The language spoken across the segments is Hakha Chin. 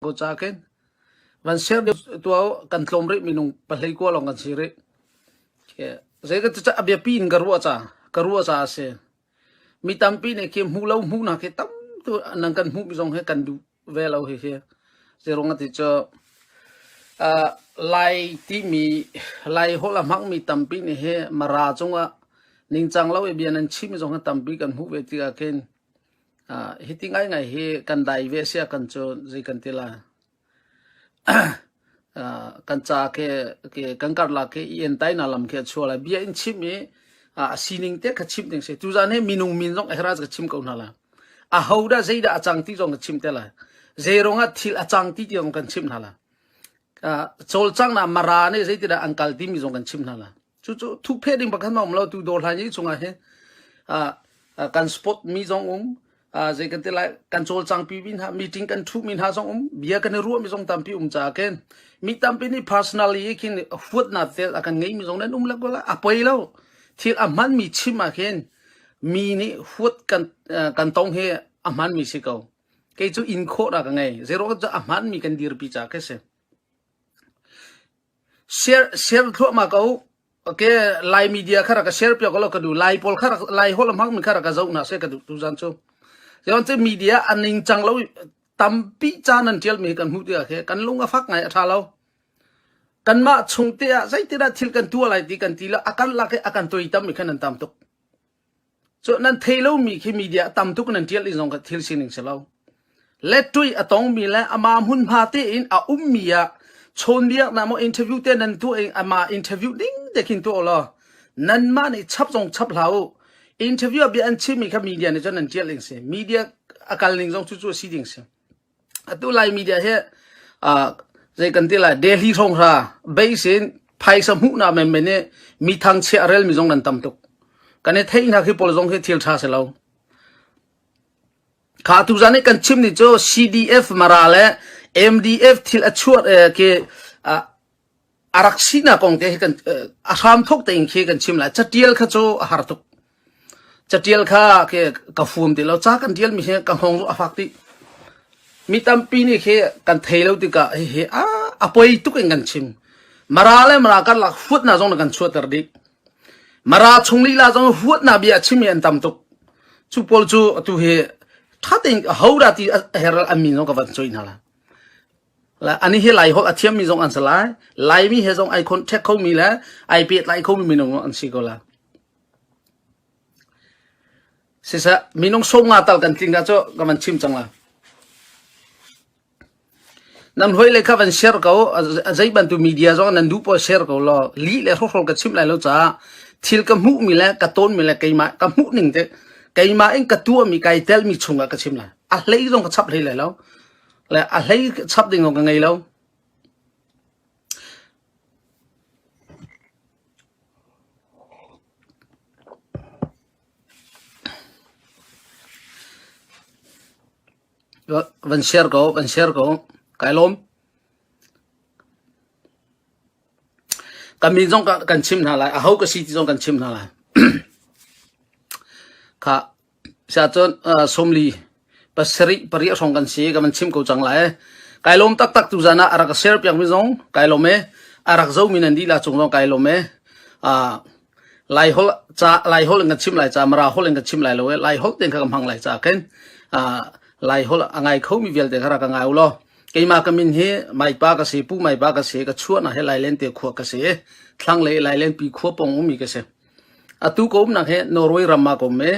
ko ca kin van ser tua kan tlom rih minung pahlei kwa long kan si rih ke zei ka ca abia pin ka ruwa ca ka ruwa ca ase Mi tampi nih khi hmuh lo hmuhnak hi tam tu nan kan hmuh mi zong hi kan duh ve lo hihi. Zeiruang ati cu uh, Lai timi Lai holh a hmang mi tampi nih hi Mara cungah ningcang lo i bia nan chim mi zong hi tampi kan hmuh ve tik ah khin uh, hiti ngaingai hi kan dai ve sia kan cu zei kan ti lai. kan caah kan karlak i entainak lam khi a chuah lai. Bia in chimh i a sining te kha chimh ding a si. Tuzan hi minung min zong ehra ka chim ko hna lai. A ho dah zeidah a cang ti zong ka chim te lai. Zeirong ah thil a cang ti tiang kan chimh hna lai. Cawlcang na mara nih zeitindah an kal timi zong kan chimh hna lai. Cucu thukphe ding pakhat a um lo tu dawr hlan yi chungah hin kan sport mi zong um zei kan ti lai kan cawlcang pi mi hna meeting kan thu mi hna zong um bia kan i ruah mi zong tampi um ca ken mi tampi nih personal yi khin huat na tel a kan ngei mi zong nan um la gola a poi lo thil a hman mi chim a khin mi nih huat kan kan tong hi a hman mi si ko kei cu in khawt a ka ngei zero a hman mi kan dir pi ca ke se Share thluahmah ko uh. Okay, Lai media kha rak ka share piak law ka duh. Lai pawl kha rak Lai holh hmang mi kha rak ka zoh hna seh ka duh tuzan cu. Sion cu media an ning cang lo tampi caan an tial mi kan hmuh tiah khe kan lung a fak ngai a tha lo. Kan mah chung te ah zeitin ah thil kan tuah lai ti kan ti lo akan lak i akan toi tam mi khan an tam tuk. Cu nan thei lomi khi media a tam tuk in nan ṭial i zong kha thil sining si lo. Letṭuih a tongmi le amah hmunhma tein a ummi ah chawnbiak na maw interview te nan tuah i amah interview ding te khin tuah u law nanmah nih chap zong chap hlah u. Interview ah bia an chimmi kha media nih cun nan ṭial ding a si. Media a kal ning zong cucu a si ding a si. Atu Lai media hi uh, zei kan ti lai Delhi hronghra base in phaisa hmuhnak menmen i mi thangchiah relmi zong nan tam tuk. Kan i theihnak hi pawl zong hi thil tha si lo. Kha tu zan i kan chim ni cu CDF mara le MDF thil a chuat eh, ke uh, A rak sinak kong te hi kan a hramthok tein khi kan chim lai. Catial kha cu a har tuk. Catial kha ke ka fuam ti lo. Ca kan tialmi hi ka hong a fak dih. Mi tampi nih khi kan thei lo tikah hihi a, a poi tuk in kan chim. Mara le mara karlak huatnak zong na kan chuahter dih. Mara chung lila zong huatnak bia a chim hi an tam tuk. Cu pawl cu atu hi thatin hoda ti a her an min zong ka van choi hna la. Ani hi Lai holh a thiammi zong an si lai. Laimi he zong ai contact khomi le ai pehtlai khomi minung an si ko lai. Siseh, minung sawmnga tal kan tling cu ka van chim cang la. Nan hoi le kha van share ko, zei bantu media zong nan duh po share ko law, li le hrohrol ka chim lai lo ca, thil ka hmuh mi le ka tawn mi le keimah, ka hmuh ning te, keimah in ka tua mi, kai tel mi chung ah ka chim lai. A hlei zong ka chap hlei lai lo. Le a hlei chap ding zong ka ngei lo. Van share ko, van share ko. Kai lawm. Kami zong kan chim hna lai. A ho ka si ti zong kan chim hna lai. Kha Siahcun sawmli pasarih pariah hrawng kan si ka van chim ko cang lai. Kai lawm taktak tu zan ah a rak ka share piakmi zong kai lawm e. A rak zomi nan dihlak cung zong kai lawm e. Ah, Laiholh ca Laiholh in kan chim lai ca Mara holh in kan chim lai lo e. Laiholh tein kha ka hmang lai ca ken. Ah, Laiholh a ngai khomi vialte kha rak ka ngai u law keimah ka min hi mai pa ka si, pu mai pa ka si, ka chuahna he lailen te khua ka si, thlanglei lailen pi khua pong ummi ka si. Atu ka umnak hi Norway ram ah ka um i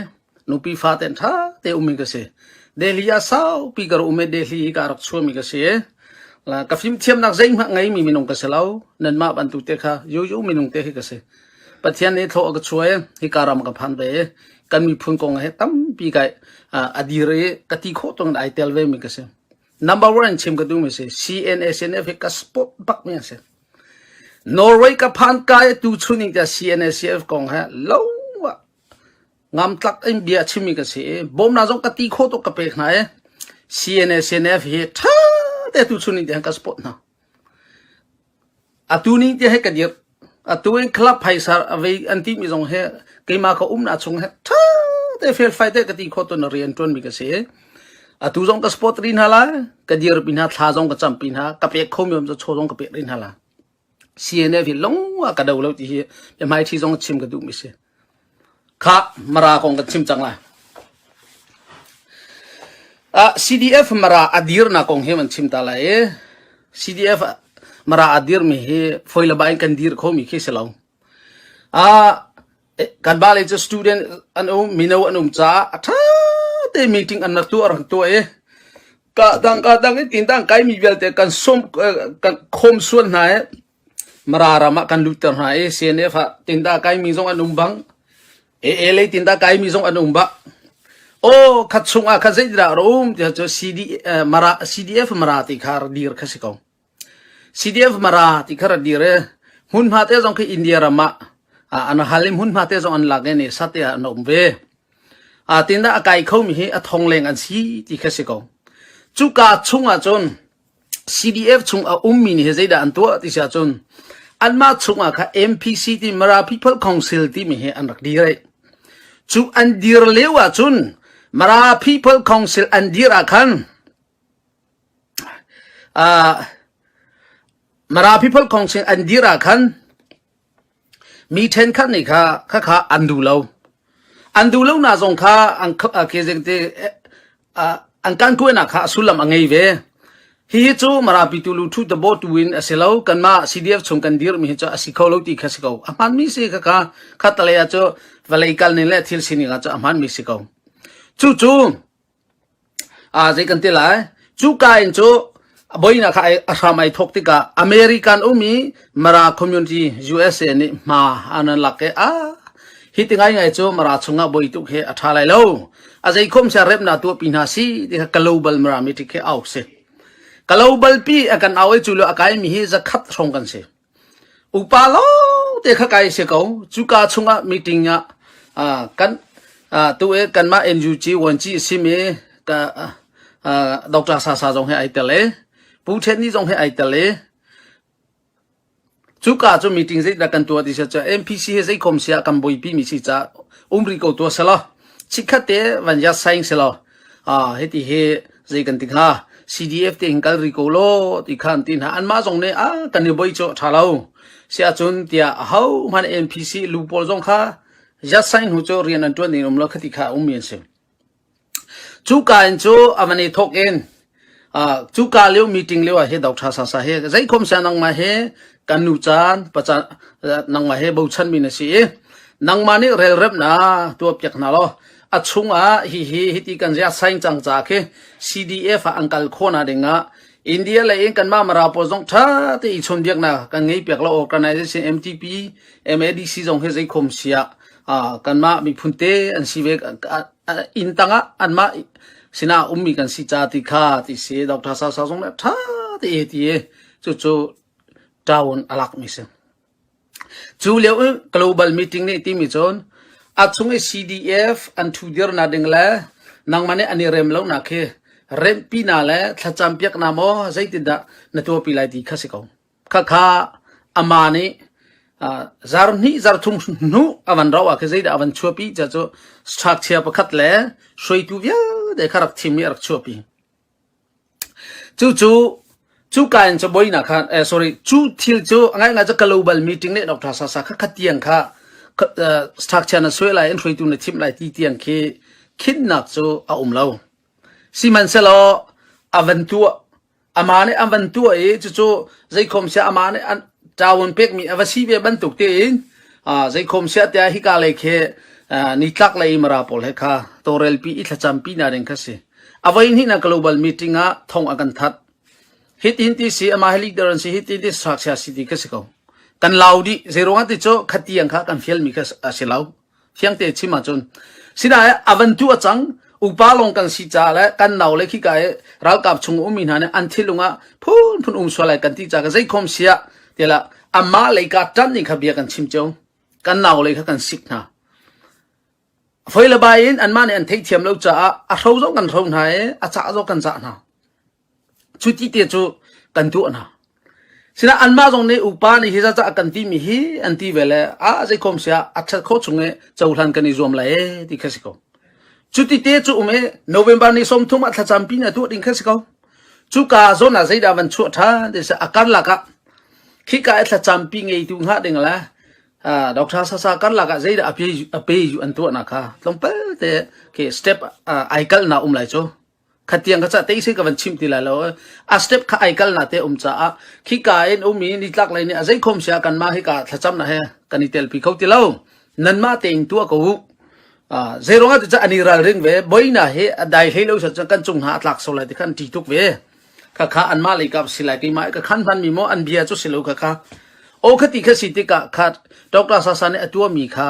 nupi fate in ṭha te um hi ka si. Delhi ah saupi ka rak um i Delhi hi ka rak chuahmi ka si i la, ka fimthiamnak zeihmanh ngeimi minung ka si lo. Nanmah bantuk te kha yoyo minung te hi ka si. Pathian nih thlawh a ka chuah i hika ram ka phan ve i kan miphun kong hi tampi ka ah, a dir i ka ti khawh tungin ai tel vemi ka si. Number one in chim ka duhmi si CNA CNF hi ka sport bakmi a si. Norway ka phan ka i tu chuning tiah CNA CNF kong he lo ah ngam tlak in bia chimmi ka si i bawmna zong ka ti kho tuk ka pek hna i CNA CNF hi tha te tu chuning tiang ka sport hna. Atu ning tia hi ka dirh. Atu in club phaisa a vei an timi zong hi keimah ka umnak chung hi ṭha te felfai te ka ti khawh tu na rian ṭuanmi ka si. Atu zong ka support rih hna lai. Ka dirpi hna, thla zong ka campi hna. Ka pek khomi um cu chaw zong ka pek rih hna lai. CNF hi lawng ah ka do lo ti hi biahmaiṭhi zong chim ka duhmi a si. Kha Mara kong kan chim cang lai. Uh, CDF Mara a dirnak kong hi an chim ta lai i CDF Mara a dirmi hi foilaba in kan dir khomi khi si lo. Uh, kan ba le cu student an um mino an um ca a tha te meeting an nar tu ar tu e ka dang ka dang in tin dang kai mi vialte kan som kan khom suan hna e Mara ram ah kan lutter hna i CNF ah tindah kaimi zong an um bang, AA lei tindah kaimi zong an um bang, aw khat chung ah khan zeitindah rak um tiah cu CD, eh, Mara, CDF Mara ti kha rak dir kha si ko. CDF Mara ti kha rak dir i hmunhma te zong khi India ram ah ah an hal i hmunhma te zong an lak i ne sate ah an um ve. A tindah a kai khomi hi a thong leng an si ti kha si ko. Cuka chung ah cun CDF chung a ummi nih hi zeidah an tuah ti si ahcun anmah chungah kha MPC ti Mara People Council timi hi an rak dir i cu an dir lio ahcun Mara People Council an dir ah khan ah Mara People Council an dir ah khan Mi ṭhenkhat nih kha khakha an duh lo. An duh lonak zong kha an kan kuainak kha a sullam a ngei ve. Hihi cu Marapitu luṭhu tabawtu in a si lo. Kanmah CDF chung kan dirmi hi cu a si kho lo ti kha si ko. A hmaanmi si khakha khatalei ah cu vawlei kal ning le thil sining ah cu a hmaanmi si ko. Cucu Zei kan ti lai? Cuka in cu a boinak kha a hram ai thawk tikah American ummi Mara community USA nih hma an an lak i a hi ti ngaingai cu Mara chungah boi tuk hi a ṭha lai lo. A zeikhom sia remnak tuahpi hna si ti kha global Mirami ṭi khi au si. Global pi a kan au i cu lio a kaimi hi zakhat hrawng kan si. Upa lawngte kha kai a si ko. Cuka chungah meeting ah ah kan ah tu i kanmah NUG vuanci a simi ka ah, ah, Dr. Sasa zong he ai tel i Pu Ṭhen Ni zong he ai tel i cuka cu meeting zeidah kan tuah ti si cu MPC he zeikhom sia kan buipi mi si ca umri ko tua selaw chikkhat te van yat saing selaw Hiti hi zei kan ti hnga, CDF te hin kal rih ko law ti kha an ti hna. Anmah zong nih a kan i boi cu a ṭha lo. Siahcun tiah ahohmanh MPC lu pawl zong kha yat sign hnu cu rian an ṭuan ding um lo khati kha a ummi an si. Cu ka in cu a van i thawk in Cuka lio meeting lio ah hi Dokhta Sasa hi zeikhom siah nangmah hi kan nu caan nangmah he bochanmi na si i nangmah nih relremnak tuah piak hna law a chungah hihi hiti kan ziah saing cang ca khi CDF ah an kal khawhna dingah India le in kanmah Mara pawl zong ṭha te i chonbiaknak kan ngei piak lo organization MTP MADC zong hi zeikhom siah kanmah miphun te an si ve inn tangah anmah sinah a ummi kan si ca ti kha ti si doctor sau sau zong le tha te ti cu cu town alak mi si cu leo global meeting ne ti mi chon a chung i CDF an thu dir na ding le nang mane ani rem lo na khi rempi na le thlacam piak na mo zeitin dah na to pi lai ti kha si ko Khakha ama nih zar hnih zar thum hnuh a van rauh ahkhin zeidah a van chuahpi tiah cu strakchia pakhat le hruaitu vialte kha rak thim i a rak chuahpi. Cucu cuka in cabuainak khan sorry cu thil cu a ngaingai cu global meeting le Dr. Sasa kha khatiang kha strakchia na suai lai in hruaitu na thimh lai ti tiang khi khinnak cu a um lo. Sihmanhsehlaw a van tuah Amah nih a van tuah i cucu zeikhom siah amah nih ṭawun pekmi a va si ve bantuk tiin zeikhom siah tiah hika lei khi nitlak lei i mara pawl he kha tawlrelpi i thlacampi hna ding kha a si. A voihnihnak global meeting ah thong a kan that. Hitin ti si, amah hi leader an si, hitin ti saksia si ti ka si ko. Kan lau dih, zeiruangah ti cu khatiang kha kan fialmi kha a si lo. Fiangte chim ahcun sinain a van tu a cang upa lawng kan si caah le kan nau le khika i ralkap chung ummi hna nih an thinlung ah phunphun um sual lai kan ti caah zeikhom sia tilah amah lei ka tan ning kha bia kan chim cio kan nau lei kha kan sik hna foile bai in anmah nih an theih thiam lo caah a hro zong kan hro hna i a cah zong kan cah hna Cuti te cu kan tuah hna. Sinain anmah zong nih upa nih hi zaca a kan timi hi an ti ve le ah zeikhom siah a ṭhat khawh chung i cohlan kan i zuam lai ee ti kha si ko. Cuti te cu um i November ni sawmthum ah thlacam pi nih a tuah ding kha si ko. Cuka zawn ah zeidah van chuah ṭhan ti si a karlak ah khika i thlacam pi ngeitu hnga ding le uh, Dr. Sasa karlak ah zeidah a pe a pe yu an tuahnak kha tlawmpal te ke step uh, ai kalh na um lai cu. khatiang kha cah te sin ka van chim ti lai lo a step kha ai kal na te um caah khika in um i nitlak lei nih a zeikhom sia kan mah hika thlacam na he kan i tel pi kho ti lo nan ma te in tua ko zeirong ah ca ani ral ring ve boina he dai hlei lo sa kan chung ha tlak so lai ti khan ti tuk ve kha kha an ma leika si lai ki mai ka khan han mi mo an bia chu si lo kha kha o khati kha si tika kha doctor sa sa ne atua mi kha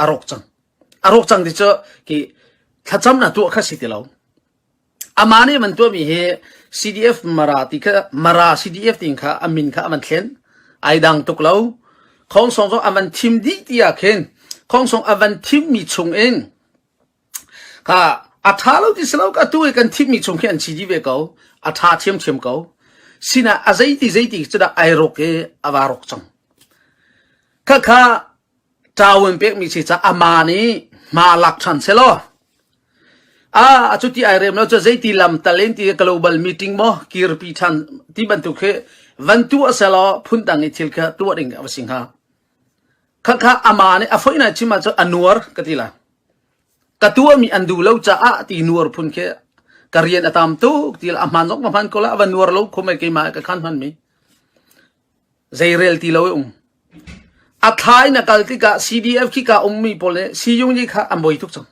arok chang A rawk cang ti cu ki thlacam na tuah kha si ti lo. Amah nih man tuahmi hi CDF Mara ti kha Mara CDF ti kha a min kha a man thlen ai dang tuk lo. Khongsong zong a man thim dih ti ah khin khongsong a van thimmi chung in ka a tha lo ti si lo ka tu i kan thimmi chung khi an chi di ve ko a tha thiam thiam ko sinah a zeiti zeiti cu dah ai rok i a va rok cang khakha Cawn pekmi si caah ama nih hma lak ṭhan sehlaw a cu ti ai rem lo cu zeiti lamtal in ti global meeting maw kirpi ṭhan ti bantuk khi van tuah selaw phun dang i thil kha tuah ding a va si hnga. Khakha ama nih a foina chim ah cu a nuar ka ti la. Ka tuahmi an duh lo caah ti nuar phun khi ka rian a tam tuk ti la a hman zong ma hman ko la a va nuar lo khumai keimah ka khan hmanmi. Zeirel ti lo i um. A thla in a kal tikah CDF khika ummi pawl nih Siyungyi kha an boi tuk cang.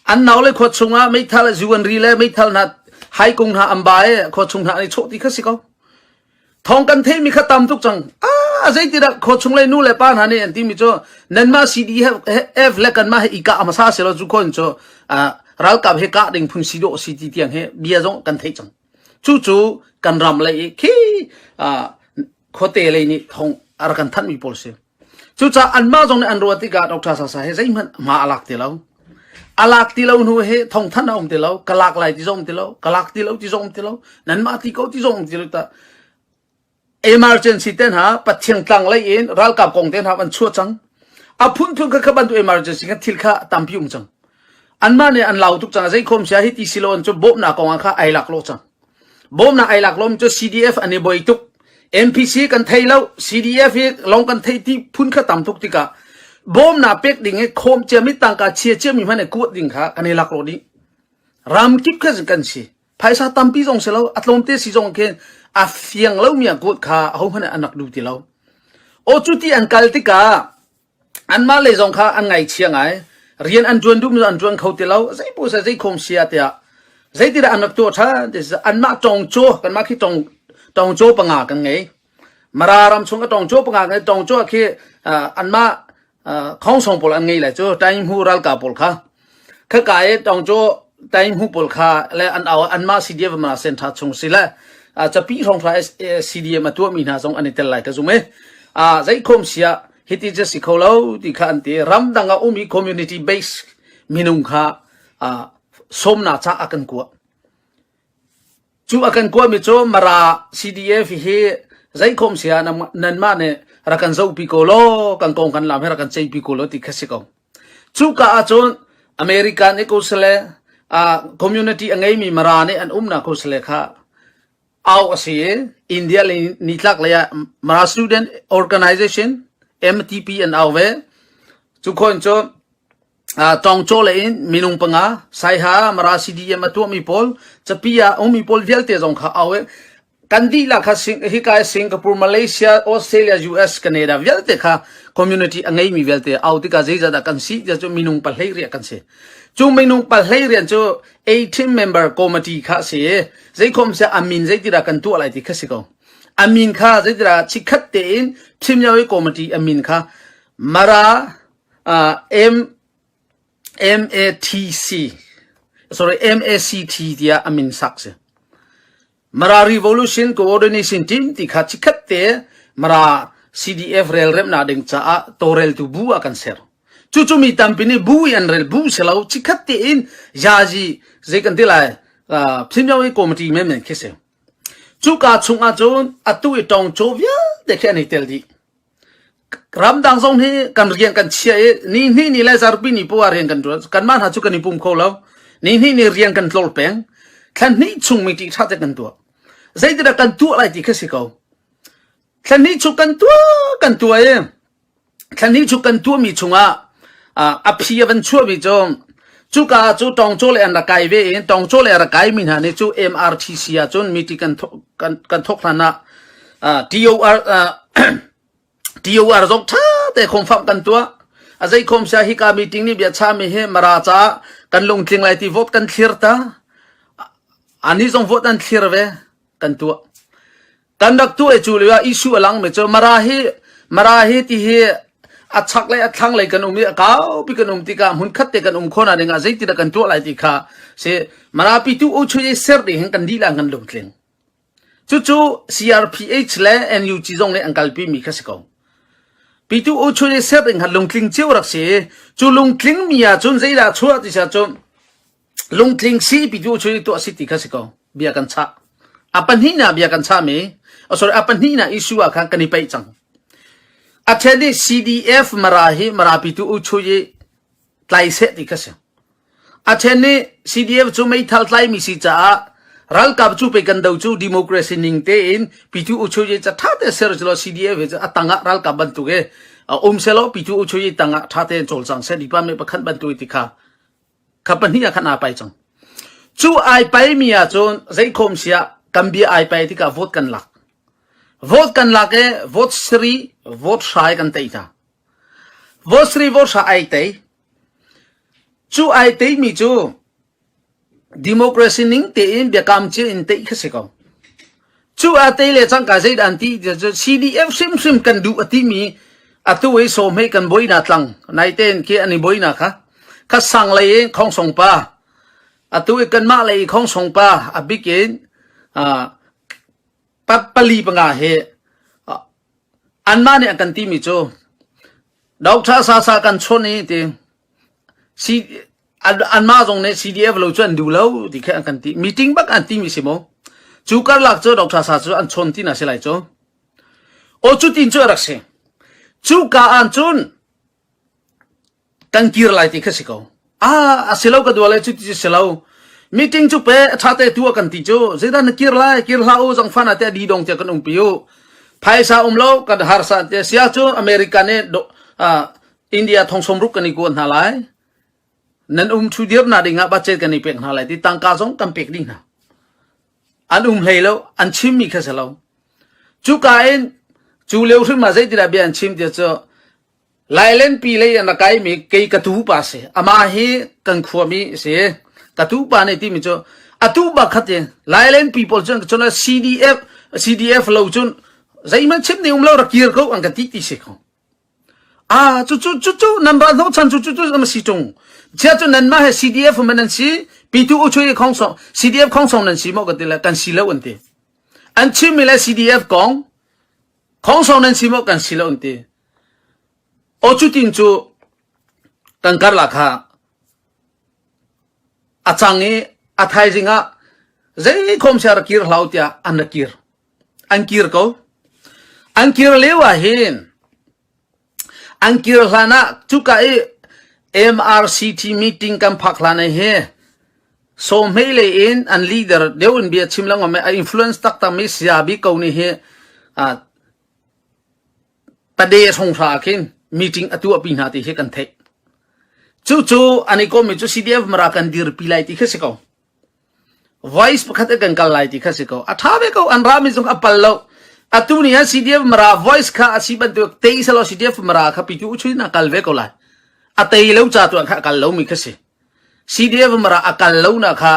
An naule khua chungah meithal zu an ri le meithal hna hai kung hna an ba i khua chung hna an i chawh ti kha si ko. Thawng kan theihmi kha tam tuk cang. A zeitindah khua chung le nu le pa hna nih an timi cu nanmah CDF le kanmah he i kah hmasa selaw cu khon cu ralkap he kah ding phun si dawh si ti tiang he bia zong kan theih cang. Cucu kan ram lei i khi khuate lei nih thong a rak kan thanhmi pawl a si. Cucaah anmah zong nih an ruat tikah Dr. Sasa hi zeihmanh hma a lak ti lo. A lak ti lo hnu he thong thanh a um ti lo, ka lak lai ti zong um ti lo, ka lak ti lo ti zong um ti lo, nanmah ti ko ti zong um ti lo ta. emergency ten ha pathiang tlang lei in ralkap kong ten ha an chuah cang a phun phun kha kha bantuk emergency kan thil kha tampi um cang an mah nih an lau tuk cang zei khom sia hi ti siloan cu bawmna kong kha ai lak lo cang bawmna ai lak lom cu CDF an i boi tuk MPC kan thei lo CDF hi long kan thei ti phun kha tam tuk tika bawmna pek ding e khom cia mi tangka chia cia mi hmane kuat ding kha kan i lak lo ding ram kip kha kan si phaisa tampi zong si lo a tlawmte si zong khin a fiang lomi a kawt kha ahohmanh an rak du ti lo o cu ti an kal tikah anmah lei zong kha an ngaichia ngai rian an tuan duh an tuan kho ti lo zei pu sai zei khom sia tiah zei ti dah an rak tuah tha anmah tong cho kanmah khi tong tong cho panga kan ngei Mara ram chung ka tong cuah panga kan tong cuah khi anmah khongsong pawl an ngei le cu Tainghu ralkap pawl kha khaka i tong cu Tainghu pawl kha le an au anmah CDF ma central chung si le capi hrawnghrra CDF a tuahmi hna zong an i tel lai ka zum i zeikhom sia hiti just si kho lo ti kha an ti ramdang a ummi community base minung kha somna ca a kan kuah Cu a kan kuahmi cu Mara CDF hi zeikhom sia nanmah nih rak kan zohpi ko law kan kongkhan lam hi rak kan ceihpi ko law ti kha si ko. Cuka ahcun American nih ko sile uh, community a ngeimi Mara nih an umnak ko sile kha au a si i India le nitlak lei ah Mara Student Organization MTP an au ve. Cu khon cu Tawngcaw lei in minung panga, Saiha, Mara CDM a tuahmi pawl, capi ah ummi pawl vialte zong kha au i kan dihlak kha hika i Singapore, Malaysia, Australia, US, Canada vialte kha community a ngeimi vialte au tikah zeizat dah kan si tiah cu minung pahlei riah kan si. Cu minung pahlei rian cu A team member committee kha si i zeikhom se amin zeitidah kan tuah lai ti kha si ko. Amin kha zeitidah chikhat tein team yao committee amin kha Mara, MACT tiah a min sak a si. Mara Revolution Coordination Team ti kha chikhat te Mara CDF relremnak ding caah tawreltu bu ah kan ser. Cucu mi tampi nih bu i an rel bu si lo chikhat te in yaji zei kan ti lai phimyo hi committee men men khi si. Cuka chung ahcun atu i tong cho vialte khi an i tel dih. Ramdang zong hi kan rian kan chia i ni hnih ni le zarpi ni poah rian kan tuan. Kanmah hna cu kan i pum kho lo. Ni hnih ni rian kan tlor peng. Thla hnih chung mi ṭih ṭha te kan tuah. Zeitindah kan tuah lai ti kha si ko. Thla hnih chung kan tuah kan tuah i thla hnih chung kan tuah mi chungah a phi a van chuah mi cu Cuka ah cu tawngcaw le an rak kai ve in tawngcaw le a rak kaimi hna nih cu MRTC ah cun meeting kan thok kan, kan thok hlan ah uh, TOR uh, TOR zong tha te khom fam kan tua a zei khom sia hi ka meeting ni bia cha mi he mara cha kan lungtling lai ti vote kan thlir ta ani zong vote an thlir ve kan tua kan rak tu cu le issue a lang mi cu mara hi mara hi ti hi a chak le a thlang le kan um i a kau pi kan um ti ka mun khat te kan um khona ning a zeiti da kan tuah lai ti kha se mara pi tu o chhui ser ti hin kan di la kan lung tling chu chu CRPH le NUG zong nih an kalpi mi kha si ko pi tu o chhui ser ring han lung tling cheu rak si chu lung tling mi a chun zeila chua ti sa chun Lungtling sipi cu cu tuah a si ti kha si ko. Bia kan chah. A pahnihnak bia kan chahmi, oh sorry, a pahnihnak issue ah khan kan i peih cang. A then i CDF mara hi marapitu u chu i tlai seh ti kha si. A then i CDF cu meithal tlaimi si caah ralkap cu pe kan do cu democracy ning tein pitu u chu i ca tha te ser celo CDF hi a tangah ralkap bantuk i um selo pitu u chu i tangah tha te cawlcang seh dipa me pakhat bantuk ti kha kha pahnih ah khan aa pai cang cu ai pai mi ah cun zei khom sia kan bia ai pai tika vote kan lak vote kan lak e vote sri vote hrai kan tei ta vote sri vote hra ai tei cu ai tei mi cu democracy ning te in biakam ci in tei kha si ko Cu a te le cangka zeidah an ti ti cu CDF hrimhrim kan duh a timi atu i somei kan boina tlang nai ten ke an i boina kha kha sang lei in khongsong pa atu i kanmah lei i khongsong pa a bikin pali panga he anmah nih an kan timi cu Doctor Sasa kan chon i ti anmah zong nih CDF lo cu an duh lo ti khi an kan ti. Meeting bak an timi si maw? Cu karlak cu Dr. Sa cu an chawn ti na si lai cu. O cu tin cu a rak si. Cu ka an cun kan kir lai ti kha si ko. Ah, a si lo ka dua le cu ti si lo. Meeting cu pe a ṭha te tu kan ti cu. Zeidan na kir lai, kir hla u, zang fan ate di dong te kan um pi u. Phaisa um lo, kan harsa te sia cu America nih India thongsawm ruk kan i kuah hna lai. Nan um thu dir na ding ah budget kan i pek hna lai ti tangka zong kan pek ding hna. An um hlei lo, an chim mi kha si lo. Cuka in cu leu hrim ah zeitindah bia an chim ti cu Lailen pi lei an kai mi kei ka tu pa si. Ama hi kan khua mi si. Ka tu pa ne ti mi cu atu bakhat in Lailen people cun cun CDF CDF lo cun zeihman chim ni um lo ra kir ko an ka ti ti si ko. Ah cucu cucu nan ba hnawchan cu cucu am si tung chia cu nan mah he CDF man an si P2 uchuai khong song CDF khong song nan si mo ka tila kan si lo an ti an chim mi le CDF kong khong song nan si mo kan si lo an ti o chu tin chu kan kar la kha a chang i a thaizing ah zei khom sia ra kir hlau tia an ra kir An kir lio ahhin an kir hlan ah cuka i MRCT meeting kan phak hlan ah hi Sawhmeh lei in an leader deuh in bia chim lengmang mi a influence taktak mi saya bik ko nih hi pade songhra ah khin meeting a tuahpi hna ti hi kan theih. Cucu an i kom mi cu CDF Mara kan dirpi lai ti khi si ko. Vice pakhat ah kan kal lai ti kha si ko. A ṭha ve ko, an rami zong a pal lo. Atu ni han CDF mara voice kha a si bantuk tei selo CDF mara kha pitu chuin a kal ve ko lai. A tei lo ca tu kha a kal lo mi kha si. CDF mara a kal lo na kha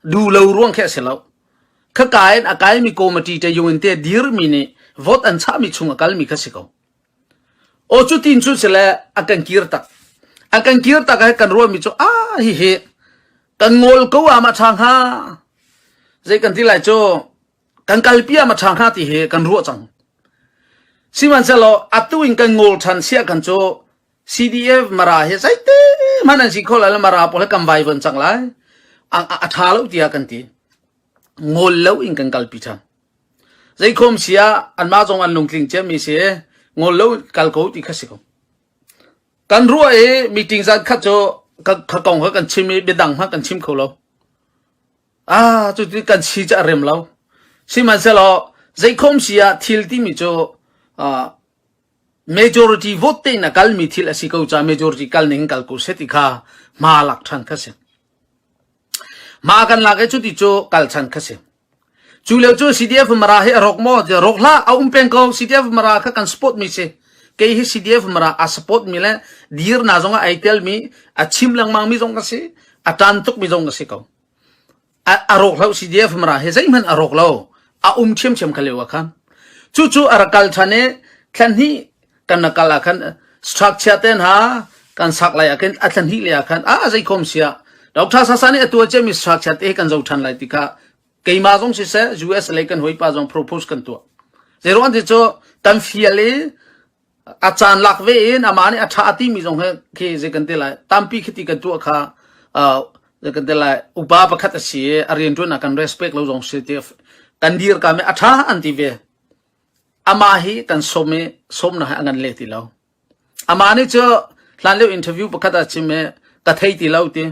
du lo ruang khe si lo. Kha kain a kai mi committee te yungin te dir mi nih vote an chah mi chung a kal mi kha si ko. Aw cu tin cu sile a kan kir tak. A kan kir tak ah kan ruahmi cu a hihi kan ngol ko am a tha hnga. Zei kan ti lai cu kan kalpi am a tha hnga ti hi kan ruah cang. Sihmanhsehlaw atu in kan ngol than sia kan cu CDF mara hi zeite hman an si kho lai lo mara pawl he kan vaivan cang lai. A, a, a tha lo tiah kan ti. Ngol lo in kan kalpi than. Zeikhom si ah anmah zong an lungtling ciami si i ngol lo in kal ko ti kha si ko. Kan ruah i meeting zankhat cu ka kong kha kan chim i biadang hmanh kan chim kho lo. Ah, cutin kan si cu a rem lo. Sihmanhsehlaw zeikhom si ah thil timi cu ah, majority vote te in a kalmi thil a si ko caah majority kal ning kal ku seh ti kha hma lak ṭhan kha si. Hma kan lak i cuti cu kal chan kha si. Cu lio cu CDF mara hi a rawk maw? Rawk hlah, a um peng ko. CDF mara kha kan support mi si. Kei hi CDF mara a support mi le dir na zong ah ai tel mi, a chim lengmang mi zong ka si, a tan tuk mi zong ka si ko. A, a rawk lo CDF mara hi zeihmanh a rawk lo. A um ṭhiamṭhiam ka leo khan. Cu cu a rak kal ṭhan i thlan hnih kan na kal ah khan structure te hna kan sak lai ah khin a thlen hih lei ah khan a zei khom sia Dr. Sasa nih a tua cia mi structure te hi kan zo than lai ti kha keima zong si se US lei kan hoi pa zong propose kan tua zero an ti chu tan fial i a caan lak ve in ama nih a tha ti mi zong he khi ze kan te lai tampi khiti kan tua kha ze kan te lai upa pakhat a si a rian tuan a kan respect lo zong si te kan dir ka me a tha an ti ve Amah hi kan sawm i sawmnak he a ngan leh ti lo. Amah nih cu hlanlio interview pakhat ah a chim i ka thei ti lo ti.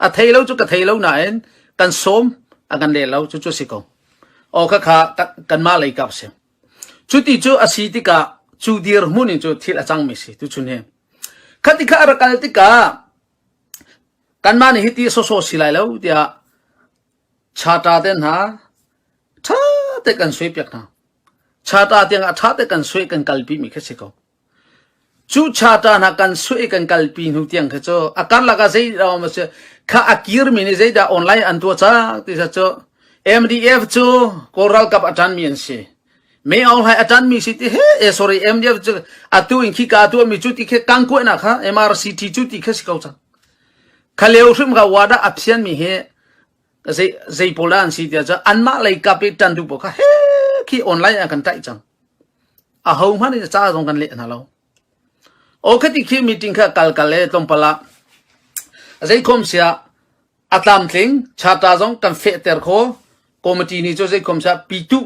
A thei lo cu ka thei lo nain kan sawm a kan leh lo cucu a si ko. Aw khakha ka- kanmah lei kap si. Cuti cu a si tikah cu dirhmun in cu thil a cangmi si tuchun hi. Khati kha a rak kal tikah kanmah nih hiti sawsawh si lai lo tiah Chata te hna ṭha te kan suai piak hna. Chata tiangah ṭha te kan suai kan kalpi mi kha si ko. Cu chata hna kan suai kan kalpi hnu tiang kha cu a karlak ah zei dah awm a si kha a kir mi nih zeidah online an tuah cang ti sa cu MDF cu Kawl ralkap a ṭan mi an si. Mei Aung a ṭan mi si ti he e sorry MDF cu atu in khi ka tuah mi cu ti khe kangkuainak kha MRCT cu ti kha si ko cang. Khaleu hrimhra wa dah a phian mi hi zei, zei pawl dah an si tiah cun anmah lei kap i ṭan duh pawl kha he khi online ah kan tlaih cang. A ho hmanh nih ca zong kan leh hna lo. Ok ti khi meeting kha kal kal le tlawmpal ah zei khom sia a tlam tling charta zong kan fehter kho committee ni cu zei khom sia pitu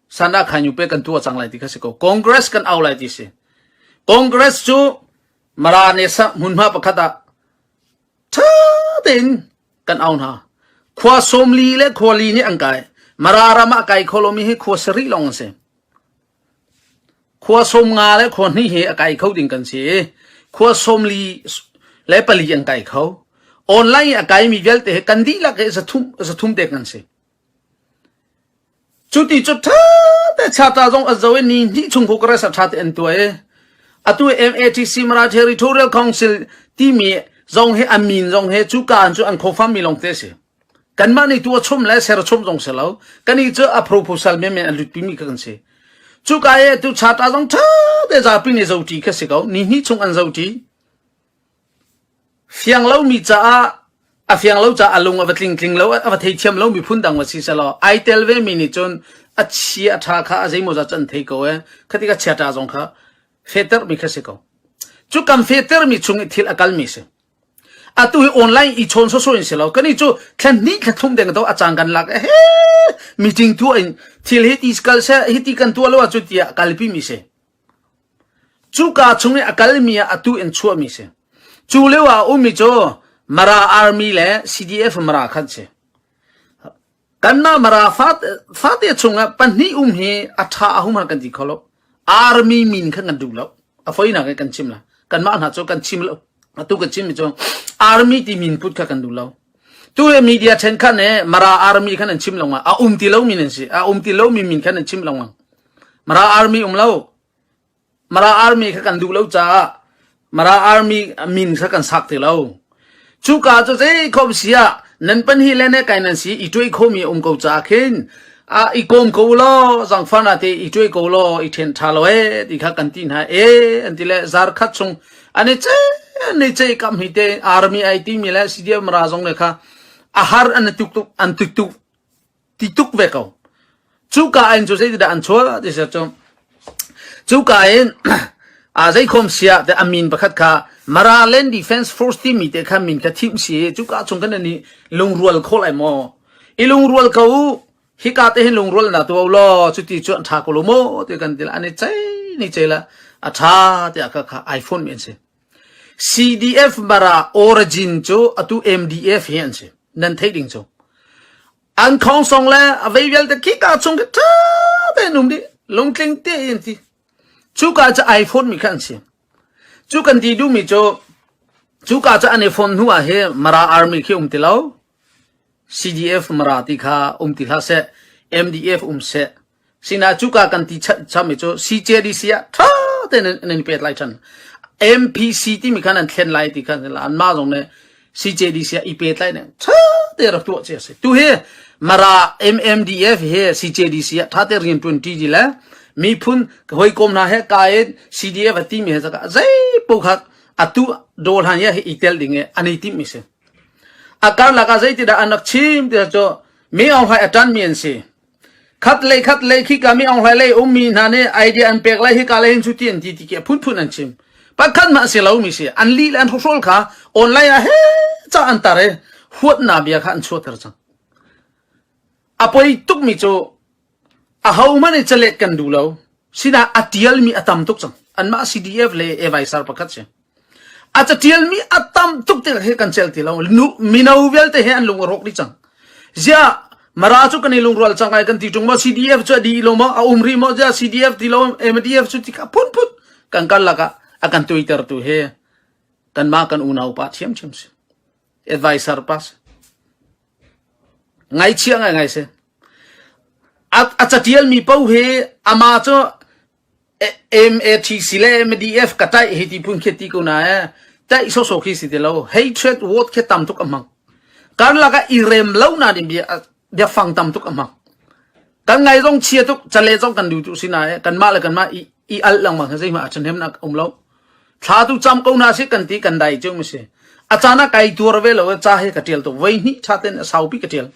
sana khanyu pe kan tu cang lai ti kha si ko congress kan au lai ti si congress cu Mara ne sak hmunhma pakhat ah ṭha tein kan au hna. Khua sawmli le khuali nih an kai. Mara ram ah kai kho lomi hi khua sarih lawng an si. Khua sawm nga le khua hnih hi a kai kho ding kan si i khua sawmli le pali an kai kho. Online i a kaimi vialte hi kan dihlak hi zathum zathum te kan si. Cuti cu ṭha te chata zong a zo i ni hnih chung Congress a ṭha te an tuai atu MATC Mara Territorial Council timi zong hi a min zong hi cu kaan cu an khofam mi longte a si kanmah nih tu a chum le ser chum zong si lo kan i cu a proposal men men a lut pimi ka kan si cu ka e tu chata zong ṭha te zapi nih zoti kha si ko ni hnih chung an zoti Fiang lomi caah a fiang lo caah a lung a va tling tling lo, a va thei thiam lomi phundang va si sehlaw ai tel vemi nih cun a chi a ṭha kha a zeimawzat cu an thei ko ee. Khati ka chiaṭa zong kha fehtermi kha si ko. Cu kan fehtermi chung i thil a kalmi si. Atu hi online i chawn sawsawh in si lo. Kani cu thlen hnih thla thlum deng to a caan kan lak e he meeting tu in thil hi ti kal se hi ti kan tuah lo ah cu tiah kalpimi si. Cuka chung i a kalmi ah atu in chuahmi a si. Cu lio ah a ummi cu Mara Army le CDF Mara kha an si. Kanmah Mara fate, fate chungah pahnih um hi a ṭha a hum kan ti kho lo. Army min kha kan duh lo. A foinak hi kan chim la. Kanmah hna cu kan chim lo. Atu ka chim mi cu Army ti min put kha kan duh lo. Tu he media ṭhenkhat nih Mara Army khan an chim lo ngang. A um ti lomi nan si. A um ti lomi min khan an chim lo ngang. Mara Army um lo. Mara Army kha kan duh lo caah Mara Army min kha kan sak ti lo. Cu ka cu zei khom si ah nan pan hi le ne kai nan si i tuai khomi um ko caah khin a i kom ko lo zang fana te i tuai ko lo i then tha lo e ti kha kan ti hna e an ti le zar khat chung ani che ni che kam hi te army ai ti mi le CDM ra zong ne kha a har an tuk tuk an tuk tuk ti tuk ve ko cuka in cu zeitindah an chuah ti ser cu cuka in a zeikhom sia te amin pakhat kha Maraland Defense Force timi te kha min kha thim si cuka chung kan ni lungrual khol ai mo i lungrual ko hika te hin lungrual na tu lo chu ti chu an tha ko lo mo te kan til ani chai ni chela a tha te aka kha iPhone men si CDF bara origin cu atu MDF hi an si nan theih ding cu an khong song le avei vialte khi ka chung khi tha te num di lungtling te in ti chu ka cha iPhone mi khan si chu kan ti du mi chu chu ka cha an iPhone hnu ah hi mara army khi um ti lo CDF mara ti kha um ti hla se MDF um se Sinah cuka kan ti chami cu CJDC ah ṭha tein an in pet lai ṭhan. MPC timi khan an thlen lai ti khan anmah zong nih CJDC ah i pet lai nih ṭha te rak tuah ci a si. Tu hi Mara MMDF hi CJDC ah ṭha te rianṭuan ṭi ji le miphun hawikom hna he ka in CDF a timi he zakah zei po khat atu dol han ya hi i tel ding i an i tim mi si. A karlak ah zeitindah an rak chim ti cu mi aung hai a ṭan mi an si. Khatlei khatlei khika mi onghlai lei ummi hna nih idea an pek lai hika lei hin cu ti an ti ti ki phunphun an chim pakhat mah si lo mi si an li le an hruhrol kha online ah he ca an tar i huatna bia kha an chuater cang a poi tuk mi cu a ho man i chalet kan du lo sinah a tial mi a tam tuk cang an mah CDF le Evaisar pakhat si A catialmi a tam tuk te hi kan cel ti lo. Mino vialte he an lung a rawk rih cang. Ziah Mara cu kan i lungrual cang lai kan ti tung ma CDF cu a di lo ma a um rih mo ziah CDF ti lo MDF cu ti ka phun phun kan kan laka a kan twitter tu he kan ma kan unau pa thiam thiam si advisor pa si ngai chia ngai ngai se a catial mi po he ama cu MATC le MDF ka taih hi ti phun khi ti ko na e taih sosok khi si te lo hatred vote khi tam tuk amang kan laka i rem lo na dim bia bia fang tam tuk amang kan ngai zong chia tuk chale zong kan du tu si na e kan ma le kan ma i i al lang ma zai ma chan hem na um lo thla tu cham ko na si kan ti kan dai chung si achana kai tuar ve lo cha he ka tial to wei ni tha ten sau pi ka tial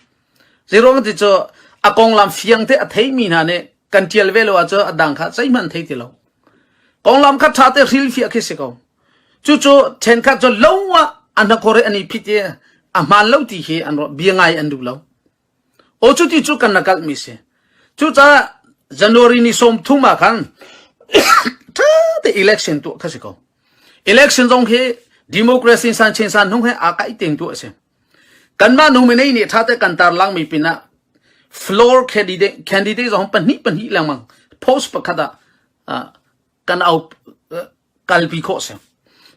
Zeiruang ti cu a konglam fiang te a theimi hna nih kan tial ve lo ahcun a dang kha zeihmanh thei ti lo. Konglam kha ṭha te hrilhfiah khi si ko. Cucu ṭhenkhat cu lo ah a hnakor i an i phit i a hmaan lo ti hi an rawh bia ngai an duh lo. O cu ti cu kan na kalhmi si. Cucaah January ni sawm thum ah khan ṭha te election tuah kha si ko. Election zong hi democracy in san chin san hnung he aa kaih tengtu a si. Kanmah nu minei nih ṭha tein kan tarlangmi pinah floor candidate zong pahnih pahnih lengmang post pakhat ah kan au kalpi khawh a si.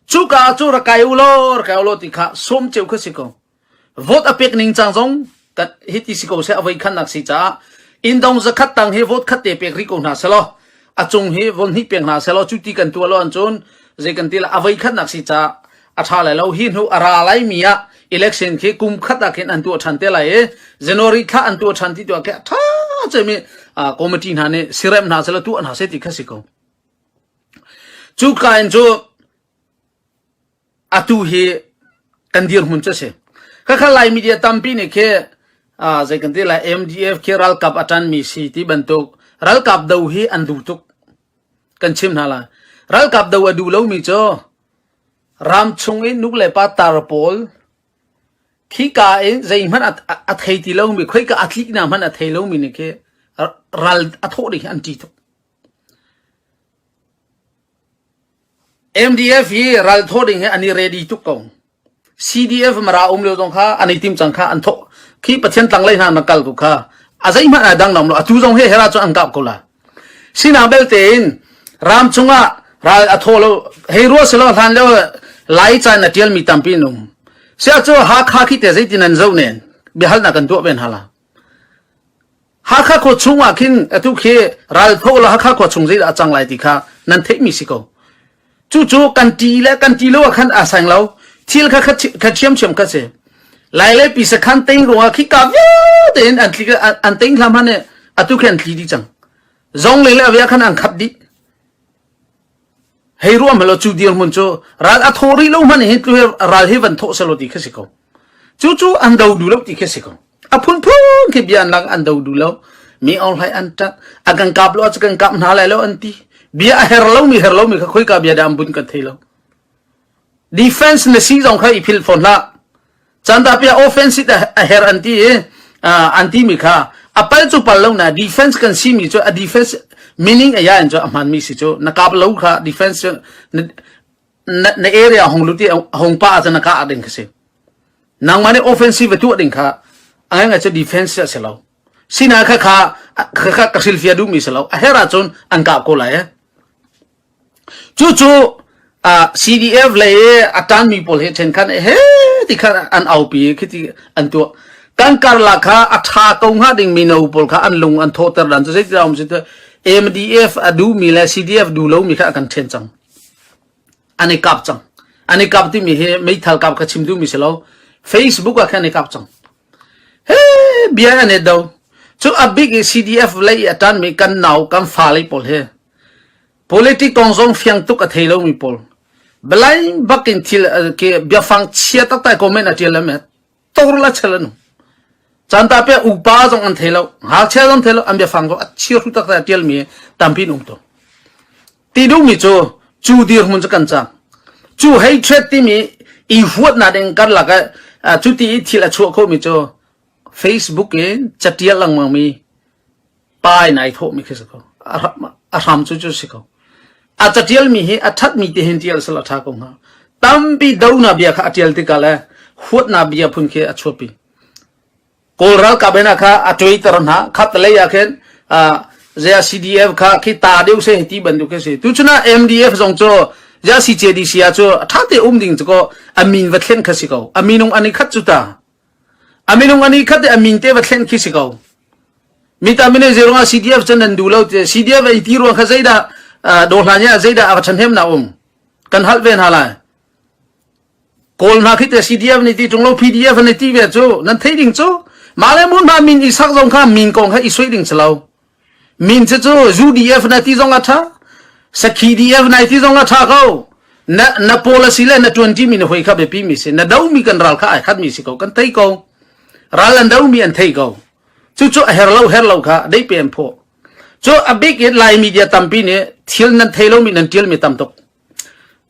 Cuka ah cu rak kai u law rak kai u law ti kha sawm ceu kha si ko. Vote a pek ning cang zong kat hiti si ko seh avoi khan nak si caah indong zakhat tang hi vote khat te pek ri ko hna selaw a cung hi von hnih pek hna selaw cu ti kan tuah lo an cun zei kan ti la avoi khat nak si caah a ṭha lai lo. Hi hnu a ra laimi ah election khi kum khat ah khin an tuah ṭhan te lai i January thla an tuah ṭhan ti tuah khi a ṭha cemi committee hna nih sirem hna sela tuah hna seh ti kha si ko. Cu ka in cu atu hi kan dirhmun cu si. Kakha lai media tampi nih khi zei kan ti lai MDF khi ralkap atan mi si ti bantuk ralkap do hi an du tuk kan chim hna lai. Ralkap do a du lomi cu Ram chung in nulepa tar pawl, khika in zeihmanh a thei ti lomi, khoika a tlik hna hmanh a thei lomi nih khi ral a thawh ding hi an ṭih tuk. MDF hi ral thawh ding hi an i ready tuk ko. CDF mara um lio zong kha an i tim cang kha an thawh. Khi Pathian tlanglei hna na kal tu kha a zeihmanh ai dang lo, atu zong hi hera cu an kap ko la. Sinak belte in ram chungah ral a thaw lo hei ruah selaw hlan leo lai caan a tial mi tampi an um sia cu Hakha khi te zeitin an zo nen biahalnak kan tuah ven hala Hakha khua chung ah khin atu khi ral tho la Hakha khua chung zei dah a cang lai ti kha nan theih mi si ko Cucu kan ṭi le kan ṭi lo ah khan aa seng lo. Thil kha kha ṭhiamṭhiam kha si. Lai le pisa khan tein ruangah khi ka vialte in an tli an tein hlam han atu khin an tli dih cang. Zong le le avia khan an khap dih. Hei ruam helo cu dirmun cu ral a tho rih lo man hin tlu ral hi van tho selo ti kha si ko. Cu cu an do du lo ti kha si ko. a phunphung khi bia lak an do du lo mi or hlai an tat a kan kap lo a kan kap hna lai lo an ti bia a her lo mi her lo mi kha khoi ka bia dam bun kan thei lo defense na si zong kha i phil phon la chanda pia offense a her an ti an ti mi kha a pal chu pal lo na defense kan si mi chu a defense meaning a ya in chu a man mi si chu na kap lo kha defense na area hong luti hong pa ah na ka ah ding kasi nangma ne offensive tu ding kha angai ngai che defense se lo sina kha kha kha ka silfia du mi se lo a hera chun an ka ko lai chu chu CDF le atan mi pol he chen khan he ti khan an au pi khiti an tu kan kar la kha atha ko nga ding mi no pol kha an lung an thoter dan to se ti raum se MDF adu mi le CDF du lo mi kha kan chen chang an i kap cang an i kap timi hi meithal kap kha chim duhmi si lo facebook ah khan i kap cang he bia an et do cu a bik i cdf lei i a tanmi kan nau kan fa lei pawl he politic kong zong fiang tuk a thei lomi pawl blind bakin thil ke biafang chia taktai comment a tial lam tawrul a chel an um canta pe upa zong an thei lo ngakchia zong thei lo an bia fang ko a chir ru tak ta tial mi tampi um to ti duh mi cu cu dir hun chu kan chang cu hei threat ti mi i huat na ding kar lak cu ti i thil a chuah kho mi cu facebook in chatial langmang mi pai nai thawhmi khi si ko. A hram cu cu si ko. A catialmi hi a thatmi te hin tial sal a tha ko hnga. Tampi dona bia kha a tial tikah le huatna bia phun khi a chuapi. Kawl ralkap ena kha a Twitter hna khat lei ah khin zia CDF kha khi ta deuh se ti bantuk khi si. Tu chuna MDF zong cu ya CJDC a cu a thate um ding cu ko amin va thlen kha si ko. Aminung ani khat cu ta. A minung ani khat a min te va thlen khi si ko. Mi ta mine zero nga CDF chan nan du lo te CDF ei ti ruang kha zeidah do hlan ya zeidah a chan hem na um kan hal ve na lai kawl na khi te CDF ni ti chung lo PDF ni ti ve chu nan thei ding chu male mun ma min i sak zong kha min kong kha i soi ding chalo Min cu cu UDF na ti zong a ṭha, sakhi-DF nai ti zong a ṭha ko. Na, na policy le na ṭuanṭi mi na hoi kha biapi mi si. Na do mi kan ral kha ai khat mi si ko, kan thei ko. Ral an do mi an thei ko. Cucu a her lo, her lo kha dei pe an phaw. Cu a bik in Lai media tampi nih thil nan thei lo mi nan ṭial mi tam tuk.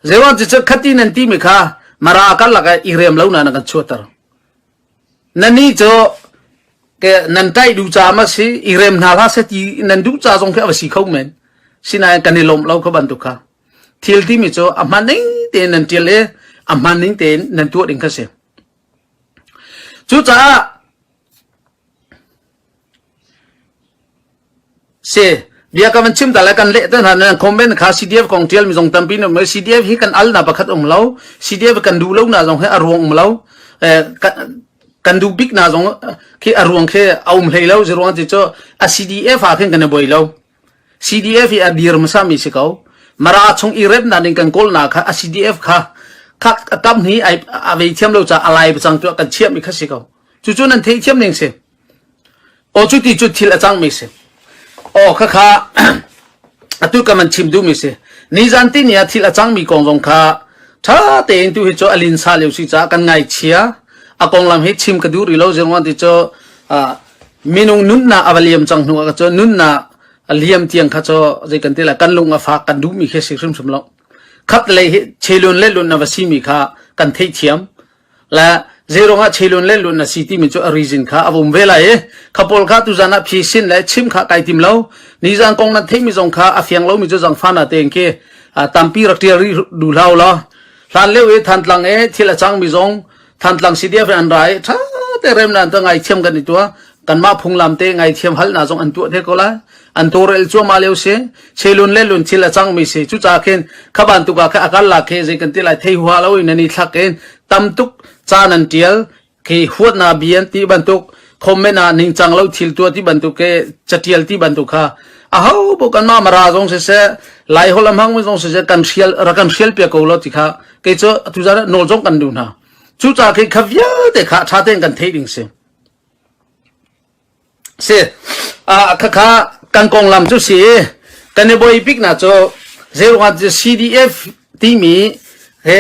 Zewan cu cu khati nan ti mi kha mara kal laka i rem lo na na kan chuater. Nannih cu nan ṭaih duh caah a si, i rem hna hlah seh ti nan duh ca zong khi a va si kho men. Sinain kan i lawmh lo kha bantuk kha. Thil timi cu a hmaan ning tein nan ṭial i a hmaan ning tein nan tuah ding kha a si. Cucaah Bia ka van chim ta le kan leh tan hran comment kha CDF kong tial mi zong tampi ne CDF hi kan al na pakhat um lo CDF kan du lo na zong he a ruang um lo kan du bik na zong khi a ruang khi a um hlei lo ruang ti cho a CDF ha khin kan boi lo CDF hi a dir masa mi si ko mara chung i rep na ning kan kol na kha a CDF kha khak tam hi ai a ve thiam lo cha alai bachang tu kan chiam mi kha si ko chu chu nan thei thiam ning si Aw cu ti cu thil a cangmi si. Aw khakha atu ka man chim duhmi si. Ni zan ti ni ah thil a cangmi kong zong kha tha tein tu hi cu a linsa leo si caah kan ngaichia. A konglam hi chim ka duh rih lo zingwan ti cu minung nunnak a va liam cang hnu ah ka cu nunnak a liam tiang kha cu zei kan ti la kan lung a fak kan duhmi khi si hrimhrim lo. Khat lei hi chelun le lun a va simi kha kan theithiam. le zeirong ah chelun lenlun na si timi cu a reason kha a vum ve lai i kha pawl kha tuzan ah phi sin le chim kha kai tim lo nizan kong nan theimi zong kha a fiang lomi cu zang fana tein ke tampi rak ṭial rih du hlau la hlan leu i than tlang e thil a chang mi zong than tlang si dia an ra i ṭha te rem nan ta ngai thiam kan i tua kan ma phunglam te ngai thiam hal na zong an tua the ko la an tawrel cuahmah lio si chelun le lun thil a cangmi si cucaah khin khaban tuka khe akal la khe zei kan ti lai thei hua lo in ani thak in tamtuk caan an tial ke huat na bian ti bantuk comment ah ning chang lo thil tua ti bantuk ke chatial ti bantuk kha a ho bo kan ma mara zong se se lai holam hang zong se se kan sial ra kan sial pia ko lo ti kha ke chu tu za nol zong kan du na chu cha khi khavia te kha tha ten kan thei ding se a si. Khakha kan konglam cu si i kan i boi bik na cu zeiruangah CDF timi he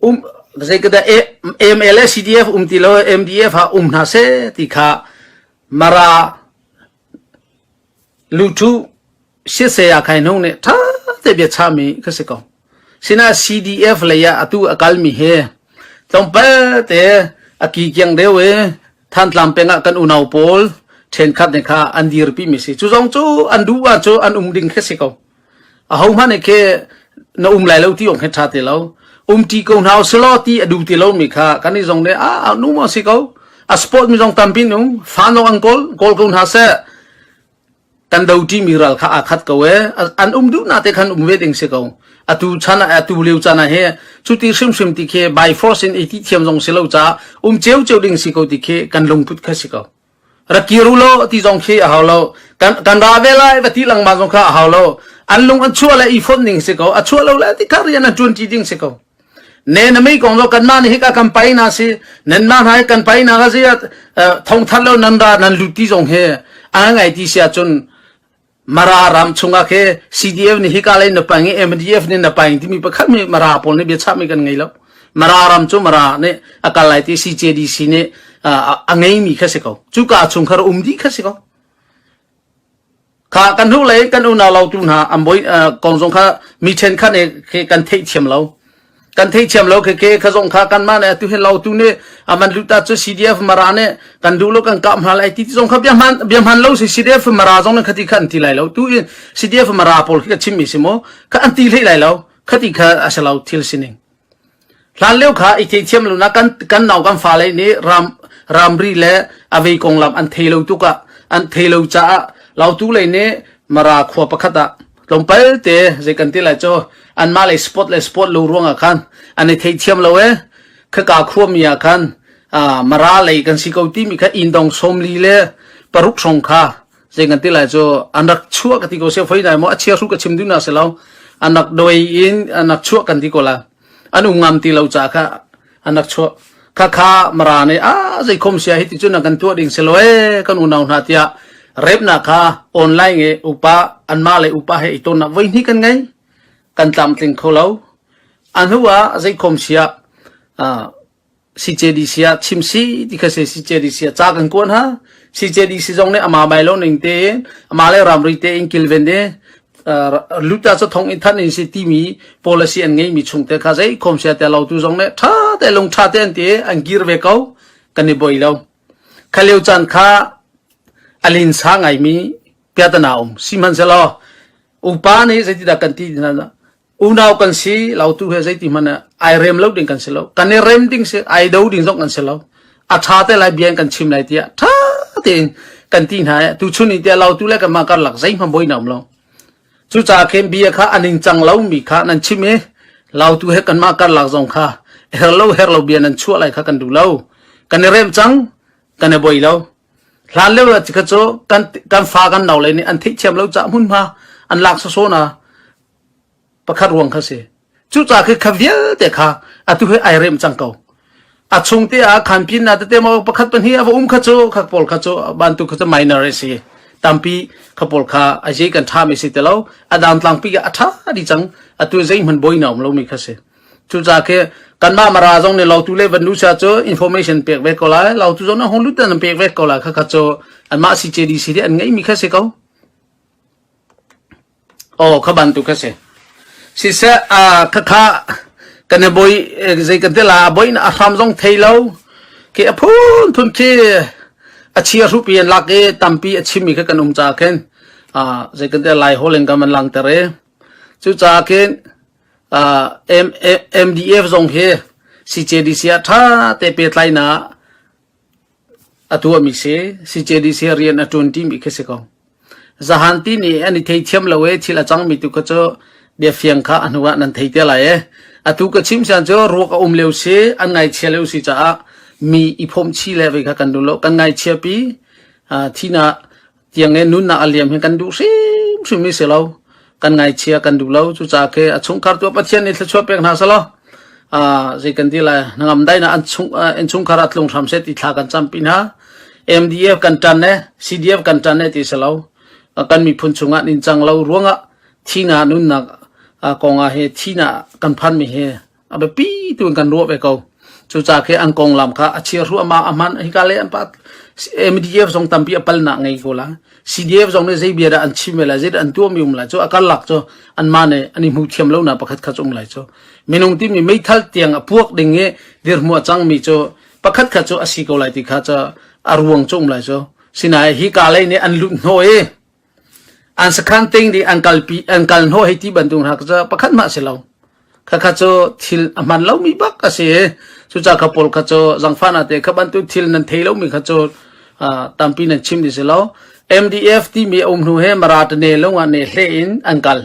um zeikada MLA CDF um ti lo MDF ha um hna se ti kha mara lutu si saya khai nung nih tha te bia chami ka si ko sina CDF lei ah atu akalmi he tlawmpal te aki kiang deu e thantlang peng ah kan unau pawl then khat ne kha an dir pi mi si chu zong chu an du ba chu an um ding khe si ko a ho hmane ke na um lai lo ti ong he tha te lo um ti ko nau selo ti adu te lo mi kha kan ni zong ne a nu mo si ko a sport mi zong tampin um fan lo an kol kol ko na se kan do ṭimi ral kha aa khat ko ee an um duhnak te khan um ve ding si ko atu chan ah atu leu chan ah hi chuti hrimhrim ti khi by force in i ti thiam zong si lo ca um cheu cheu ding si ko ti khi kan lungput kha si ko ra kiru lo ti zong khi a hau lo kan kan ra ve lai va ti lang ma zong kha a hau lo an lung an chua le i phon ning si ko a chua lo le ti ka rian a tuan ti ding si ko Ne na mi kong cu kanmah nih hika kan painak a si nanmah hna hi kan painak a si ah thongthar lo nan ra nan lut ti zong hi an ngai ti si ahcun mara ram chungah khe CDF nih hika lei na paing i MDF nih na paing timi pakhat mi mara pawl nih bia chapmi kan ngei lo mara ram cu mara nih a kal lai ti CJDC nih a ngeimi kha si ko cuka chung khar um di kha si ko Kha kan hnulei kan unau lo tu hna an bawi kong zong kha mi ṭhenkhat nih khi kan theih thiam lo. Kan theih thiam lo khi ke kha zong kha kanmah nih atu hin lo tu nih aman luta cu CDF mara nih kan duh lo kan kap hna lai ti zong kha bia hman bia hman lo si CDF mara zong nih khati kha an ti lai lo tu in CDF mara pawl khi ka chim mi si maw kha an ti hlei lai lo khati kha a si lo thil sining Hlanlio kha i theithiam lonak kan nau kan fale nih ramri le a vei konglam an thei lo tuk ah an thei lo caah lautu lei nih Mara khua pakhat ah tlawmpal te zei kan ti lai cu anmah lei spot le spot lo ruang ah khan an i theithiam lo e khaka khuami ah khan Mara lei kan si ko timi kha inn dong sawmli le paruk hrawng kha Tleng kan ti lai cu an rak chuah ka ti ko se fai dai mo a chia ru ka chim du na se lo an rak doi in an rak chuah kan ti ko la an um ngam ti lo cha kha an rak chuah kha kha mara ne a zai khom sia hi ti chu na kan tua ding se lo e kan unau hna tia rep na kha online e upa an ma le upa he iton na voi ni kan ngai kan tam tling kho lo an huwa zai khom sia a CJDC ah chim si ti kha si CJDC ah ca kan kuan ha CJDC zong nih ama mai lo ning te in ama le ramri te in kilven de luta cho thong in than in si timi policy an ngei mi chung te kha zei khom sia te lo tu zong ne tha te lung tha te an te an gir ve ko kan ni boi lo khaleu chan kha alin sa ngai mi pyatana um siman selo upa ni sai ti da kan ti na unau kan si lo tu he zeiti hmanh ai rem lo ding kan si lo kan i rem ding si ai do ding zong kan si lo a tha te lai bian kan chim lai tiah tha tein kan ti hna tu chun i tia lo tu le kan ma kar lak zei hma boi nam lo cu cha khen bia kha aning chang lo mi kha nan chim e lau tu he kan ma kar lak zong kha her lo her lo bia nan chua lai kha kan du lo kan i rem chang kan i boi lo hlan le chi kha cho kan kan fa kan no le ni an thi chem lo cha mun ma an lak so so na pakhat ruang kha si cuca khi kha vialte kha atu he ai rem cang ko a chung te ah khan pin na tete mo pakhat pan hi ava um kha chu kha pol kha chu ban tu kha chu minor a si tampi kha pol kha a je kan tha me si te lo a dang tlang pi a tha di chang atu zai man boi naum lo mi kha si cuca ke kanma mara zong ne lo tu le vannu sa chu information pek ve ko lai lo tu zong na hon lut tan pek ve ko la kha kha chu an ma si che di si de an ngai mi kha se ko Aw, kha bantuk kha si. Siseh, a khakha kan i boi zei kan tila a boi na a hram zong thei lo. Ke a phun thun khi a chia rupi an lak i tampi a chimmi kha kan um ca khin a zei kan tila lai holin kan man lang ter e. Cucaah khin MDF zong hi CJDC ah tha te pe tlai na A tuahmi si, CJDC ah rian a ṭuan ṭimi khi a si ko. Zahan ti nih an i theithiam lo i thil a cangmi tu kha cu biafiang kha a hnuah nan thei te lai i atu ka chim sian cu ruak a um lio si, an ngaichia lio si caah mi i phomhchih le vei kha kan duh lo. Kan ngaichiapi, thihnak tiang e nunnak a liam hi kan duh hrimhrim mi si lo kan ngaichia kan duh lo cucaah ke a chungkhar tu pathian nih thlachuah pek hna sa lo a zei kan ti lai nangam dai na an chung in chungkhar a tlung hram se ti thla kan cam pin ha MDF kan tan ne CDF kan tan ne ti si lo kan miphun chungah nin chang lo ruangah thina nunnak kongah he thina kan phan mi he a biapi tu in kan ruah ve ko cuca khi an konglam kha a chia ruama a hman hika le an pa MDF zong tampi a palnak ngei ko la CDF zong nih zei bia dah an chim la zei dah an tuam um la chu akar lak chu an ma ne an i hmu thiam lo na pakhat khat chung lai chu minung ti mi meithal tiang a puak ding i dir hmua chang mi chu pakhat khat chu a si ko lai ti kha chu a ruang chung lai chu sinai hi ka lei nih an lut no e an sakhan ting di an kal pi an kal hnawh hei ti bantuk hna kha pakhat mah si lo kha kha cu thil a hman lo mi bak a si i cu ca kha paul kha cu zangfana te kha bantu thil nan thei lo mi kha cu tampi nan chim di si lo MDF ti mi a um hnu he maratane lungah ne hle in an kal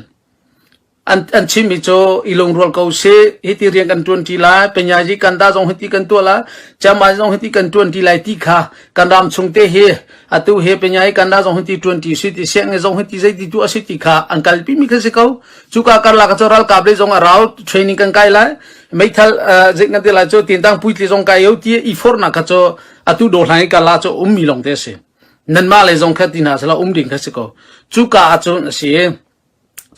an an chimmi cu i lungrual ko si hiti rian kan tuan ti lai penyaji kan da zong hiti kan tuah la chama zong hiti kan tuan ti lai ti kha kan ram chung te hi atu he penyaji kan da zong hiti tuan ti si ti siang ne zong hiti zei ti tu asi ti kha an kalpi mi kha si ko chuka karla ka choral kable zong arau training kan kai lai meithal zek na te lai cho tin tang puitli zong kai yo ti i for na ka cho atu do hlai ka la cho um mi long te si nan ma le zong kha tina sala um ding kha si ko chuka achun asi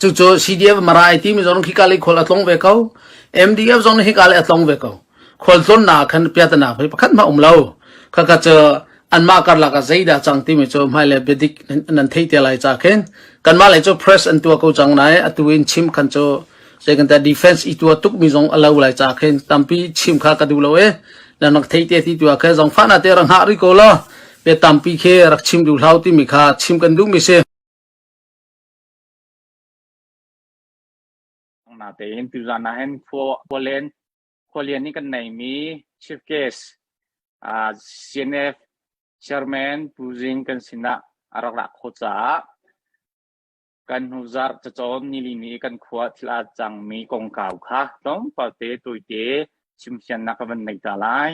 Cucu CDF marai timi zong khi kali khol a tlong ve ko. MDF zong hi kali a tlong ve ko. Khol tlon na khan piatana pei pakhat ma um lo. Kha ka cha anmah karlak a zaida chang timi cu mai le bedik nan thei te lai cha khin kanmah lai cu press an tua ko chang nai atu in chim khan cu sai kan ta defense i tua tuk mi zong alau lai cha khin tampi chim kha ka du lo e nan rak thei te ti tua khe zong fa na te rang ha ri ko lo pe tampi khe rak chim du hlau ti mi kha chim kan du mi se Natein tuzan ah hin khua len khua lian i kan neimi Chief Guest uh, CNF Chairman Pu Zing kan sinah a rak ra kho caah kan hnu zarh cacawn nilini kan khua thla cangmi kongkau kha tlawmpal te tuite chimfian nak kan nei ta lai.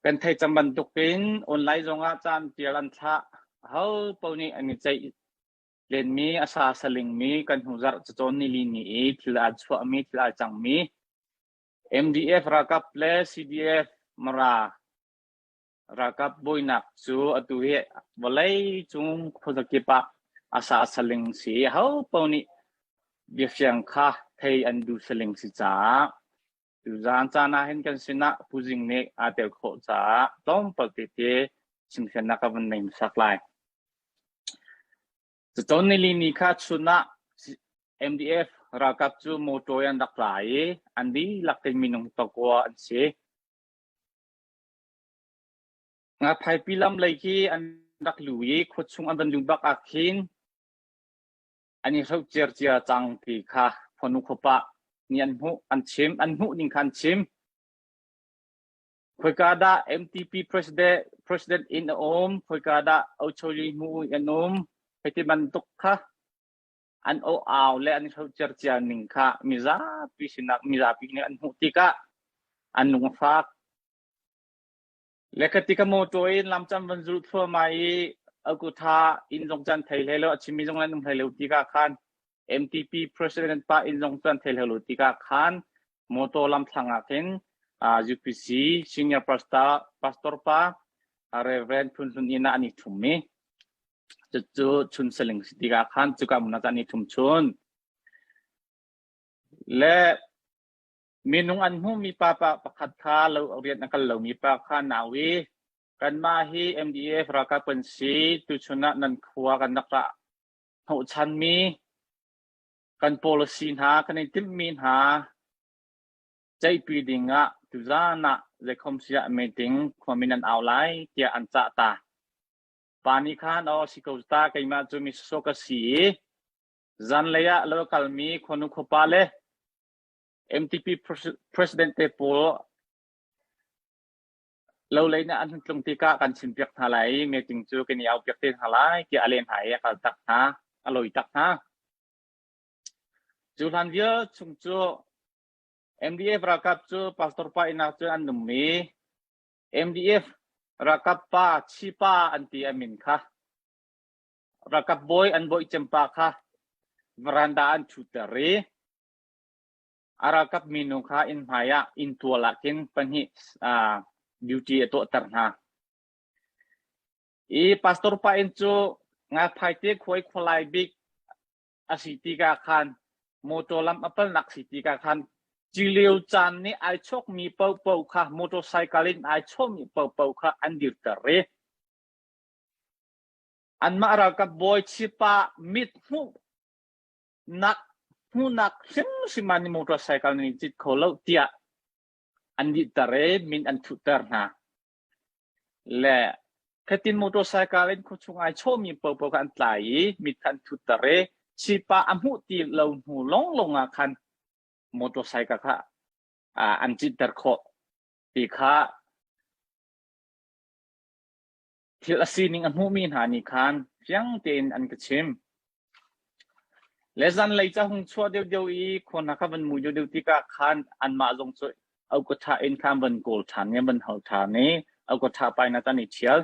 Kan thei cang bantukin online zongah caan tial an thlah. Ahopaoh nih an i ceih lenmi, a sa salingmi kan hnu zarh cacawn nilini i thil aa chuahmi, thil aa cangmi MDF ralkap le CDF Mara ralkap buainak cu atu hi vawleicung khuazakip ah a sa saling si i ahopaoh nih biafiang kha thei an duh saling si caah Zan caan ah hin kan sinah puzing nih aa tel khawh caah tlawmpal tete chimfiannak ka van neim sak lai. Cucawn nilini kha chun ah MDF ralkap cu motor an rak la i an dihlak in minung takwa an si. Nga phaipi lam lei khi an rak lu i khuachung an van lu bak ah khin an i hloh ciarcia cang ti kha khuanu khuapa nih an hmuh an chim an hmuh ning kha an chim khoika dah MTP president president in a um khoika dah Ocho Limu an um hiti bantuk kha an o au le an hlo cer cia ning kha mizapi sinak mizapi nih an hmuh tikah an lungfak Le ka ti ka mawṭaw i lam can van zulh thluahmah i akutha inn zong cu an thei hlei lo, a chimmi zong an um hlei lo tikah khan MTP President pa inn zong cu an thei hlei lo tikah khan mawṭaw lam thlang ah khin UPC senior pastor, pastor pa Reverend Phun Hlun inn ah an i ṭhummi cucu chun saling si tikah khan cuka hmun ah cun an i ṭhum chun. Le Minung an hmuhmi papa pakhat kha lo rian a kal lomi pa kha an au i kanmah hi MDF ralkap kan si tuchun ah nan khua kan rak ra hnawhchanmi kan policy hna kan i timhmi hna ceihpi ding ah tuzaan ah zeikhom siah meeting khuami nan au lai tiah an cah ta pa nih khan aw si ko ta keimah cu misosok ka si i zanlei ah lo kalmi khuanu khuapa le MDP president te pawl lo lei nih an tlung tikah kan chim piak hna lai i meeting cu kan i au piak te hna lai tiah a leh hna i a kal tak hna a loi tak hna cu hlan vial chung cu MDF ralkap cu pastor pa inak cu an num i MDF ralkap pa chi pa an ti amin kha ralkap bawi an bawi cempa kha veranda an ṭhutter i A ralkap minu kha inn hmaiah inntual ah khin pahnih duty a tuahter hna. I pastor pa inn cu Ngalphaite khuai khualai bik a si tika khan motor lam a palnak si tika khan cilio caan nih ai chawkmi paohpaoh kha motorcycle in ai chawhmi paohpaoh kha an dirter i anmah ralkap bawi chipa mit hmuh nak hmuhnak hrimhrim ah ni motor cycle nan i cit kho lo tiah an dihter i min an thuhter hna le khatin motor cycle in khuachung ai chawmi popo kha an tlai i mit kha an thutter i chipa a hmuh ti lo hnu lawnglawng ah khan motor cycle kha an citer khawh ti kha Thil a sining a hmuhmi hna nih khan fiang tein an ka chim. Le zanlei ca hung chuah deuhdeuh i khua hna kha van mu deuhdeuh tikah khan anmah zong cu auka ṭha in khan van kawl ṭhan i van hal ṭhan i auka ṭha pa in a tan i ṭhial.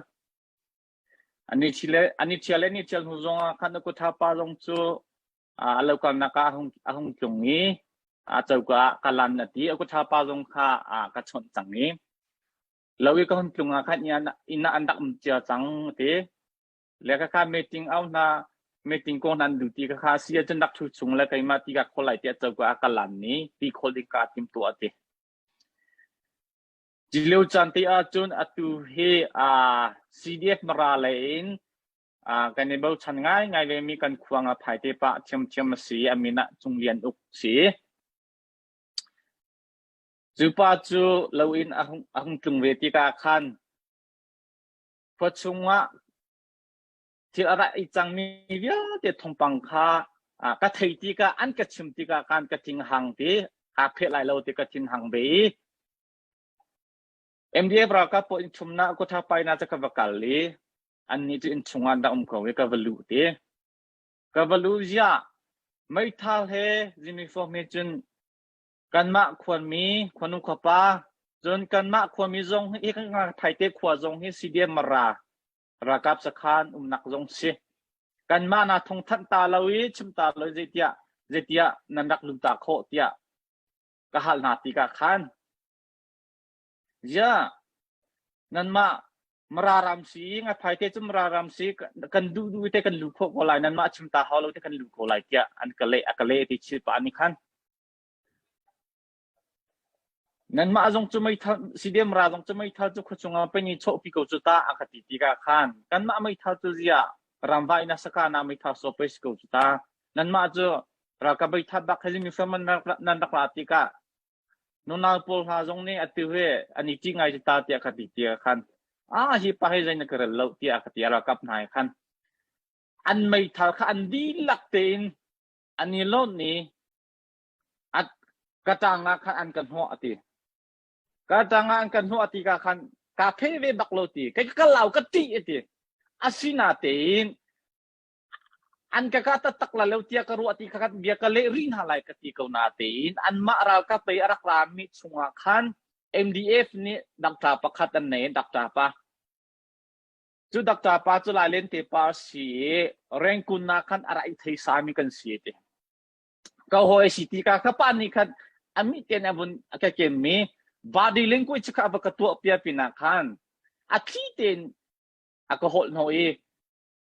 An i ṭhial, an i ṭhial le an i ṭhial hnu zongah khan auka ṭha pa zong cu aa lo kalnak ah a hung, a hung tlung i a coka ah ka lan a ti. Auka ṭha pa zong kha a ka chawnh cang i Lo i ka hun tlung ah khan inn ah an rak um cia cang a ti. Le khakha meeting au hna, meeting ko hna an duh ti khakha a si ahcun rak thu chung le keimah ti ka khawl lai tiah coka a ka lan ni ti khawl ding ka tim tuah a ti. Cilio caan te ahcun atu hi CDF mara lei in kan i bochan ngaingai ve mi kan khuang a phai te pa thiam thiam a si amin ah cung lian uk si. Cu pa cu lo in a hung tlung ve tikah khan khua chungah thil a rak i cangmi vialte thawngpang kha ka thei tikah an ka chim tikah khan ka thin hang ti aa pheh lai lo ti ka thin hang ve i MDF ralkap pawl inn chumnak kotha paina cu ka va kal i annih cu inn chungah an rak um ko i ka va luh ti ka va luh ziah meithal he zimi fawm he cun Kanmah khuami khuanu khuapa cun kanmah khuami zong hi Thaite khua zong hi CDM-Mara ralkap sakhan umnak zong si. Kanmah na thongthanh ta lo i chim ta lo zeitiah zeitiah nan rak lut ta khawh tiah ka hal hna ti ka khan. Ya, nanmah mararam si nga thai te chu mararam si kan du du te kan lu kho ko lai nan ma chim ta hau lo te kan lu kho lai tiah an ka le a ka le ti chil pa ni khan Nanmah zong cu meithal Sidemra zong cu meithal cu khuachung ah penh i chawhpi ko cu ta a ka ti tikah khan kanmah meithal cu ziah ramvai na sakana meithal so pes ko cu ta nanmah cu ralkap meithat bak heli mifem nan rak ra tikah nunau pawl hna zong nih atu he an i ṭi ngai cu ta tiah ka ti tikah khan a hi pa he zei na ka rel lo tiah ka ti ralkap hna he khan an meithal kha an dihlak tein an i lonh i ka ṭangah khan an ka hnawh a ti. Ka ṭangah an ka hnawh a ti ka khan kaa pheh ve bak lo ti. Kai ka lau ka ṭih a ti. Asinatein an ka ka tattak la lo tia ka ruah ti kha kan bia ka leh rih hna lai ka ti ko natein anmah ralkap pei a rak rami chungah khan MDF nih dakṭa pakhat an nei, dakṭa pa Cu dakta pa cu lailente pa a si i rengkun nak khan a rak i theisami kan si ti. Ka hawi a si ti ka ka pa nih khan a mi ten a vun a ka kemmi body language kha a va ka tuah pia pinah khan a thli ten a ka holh no i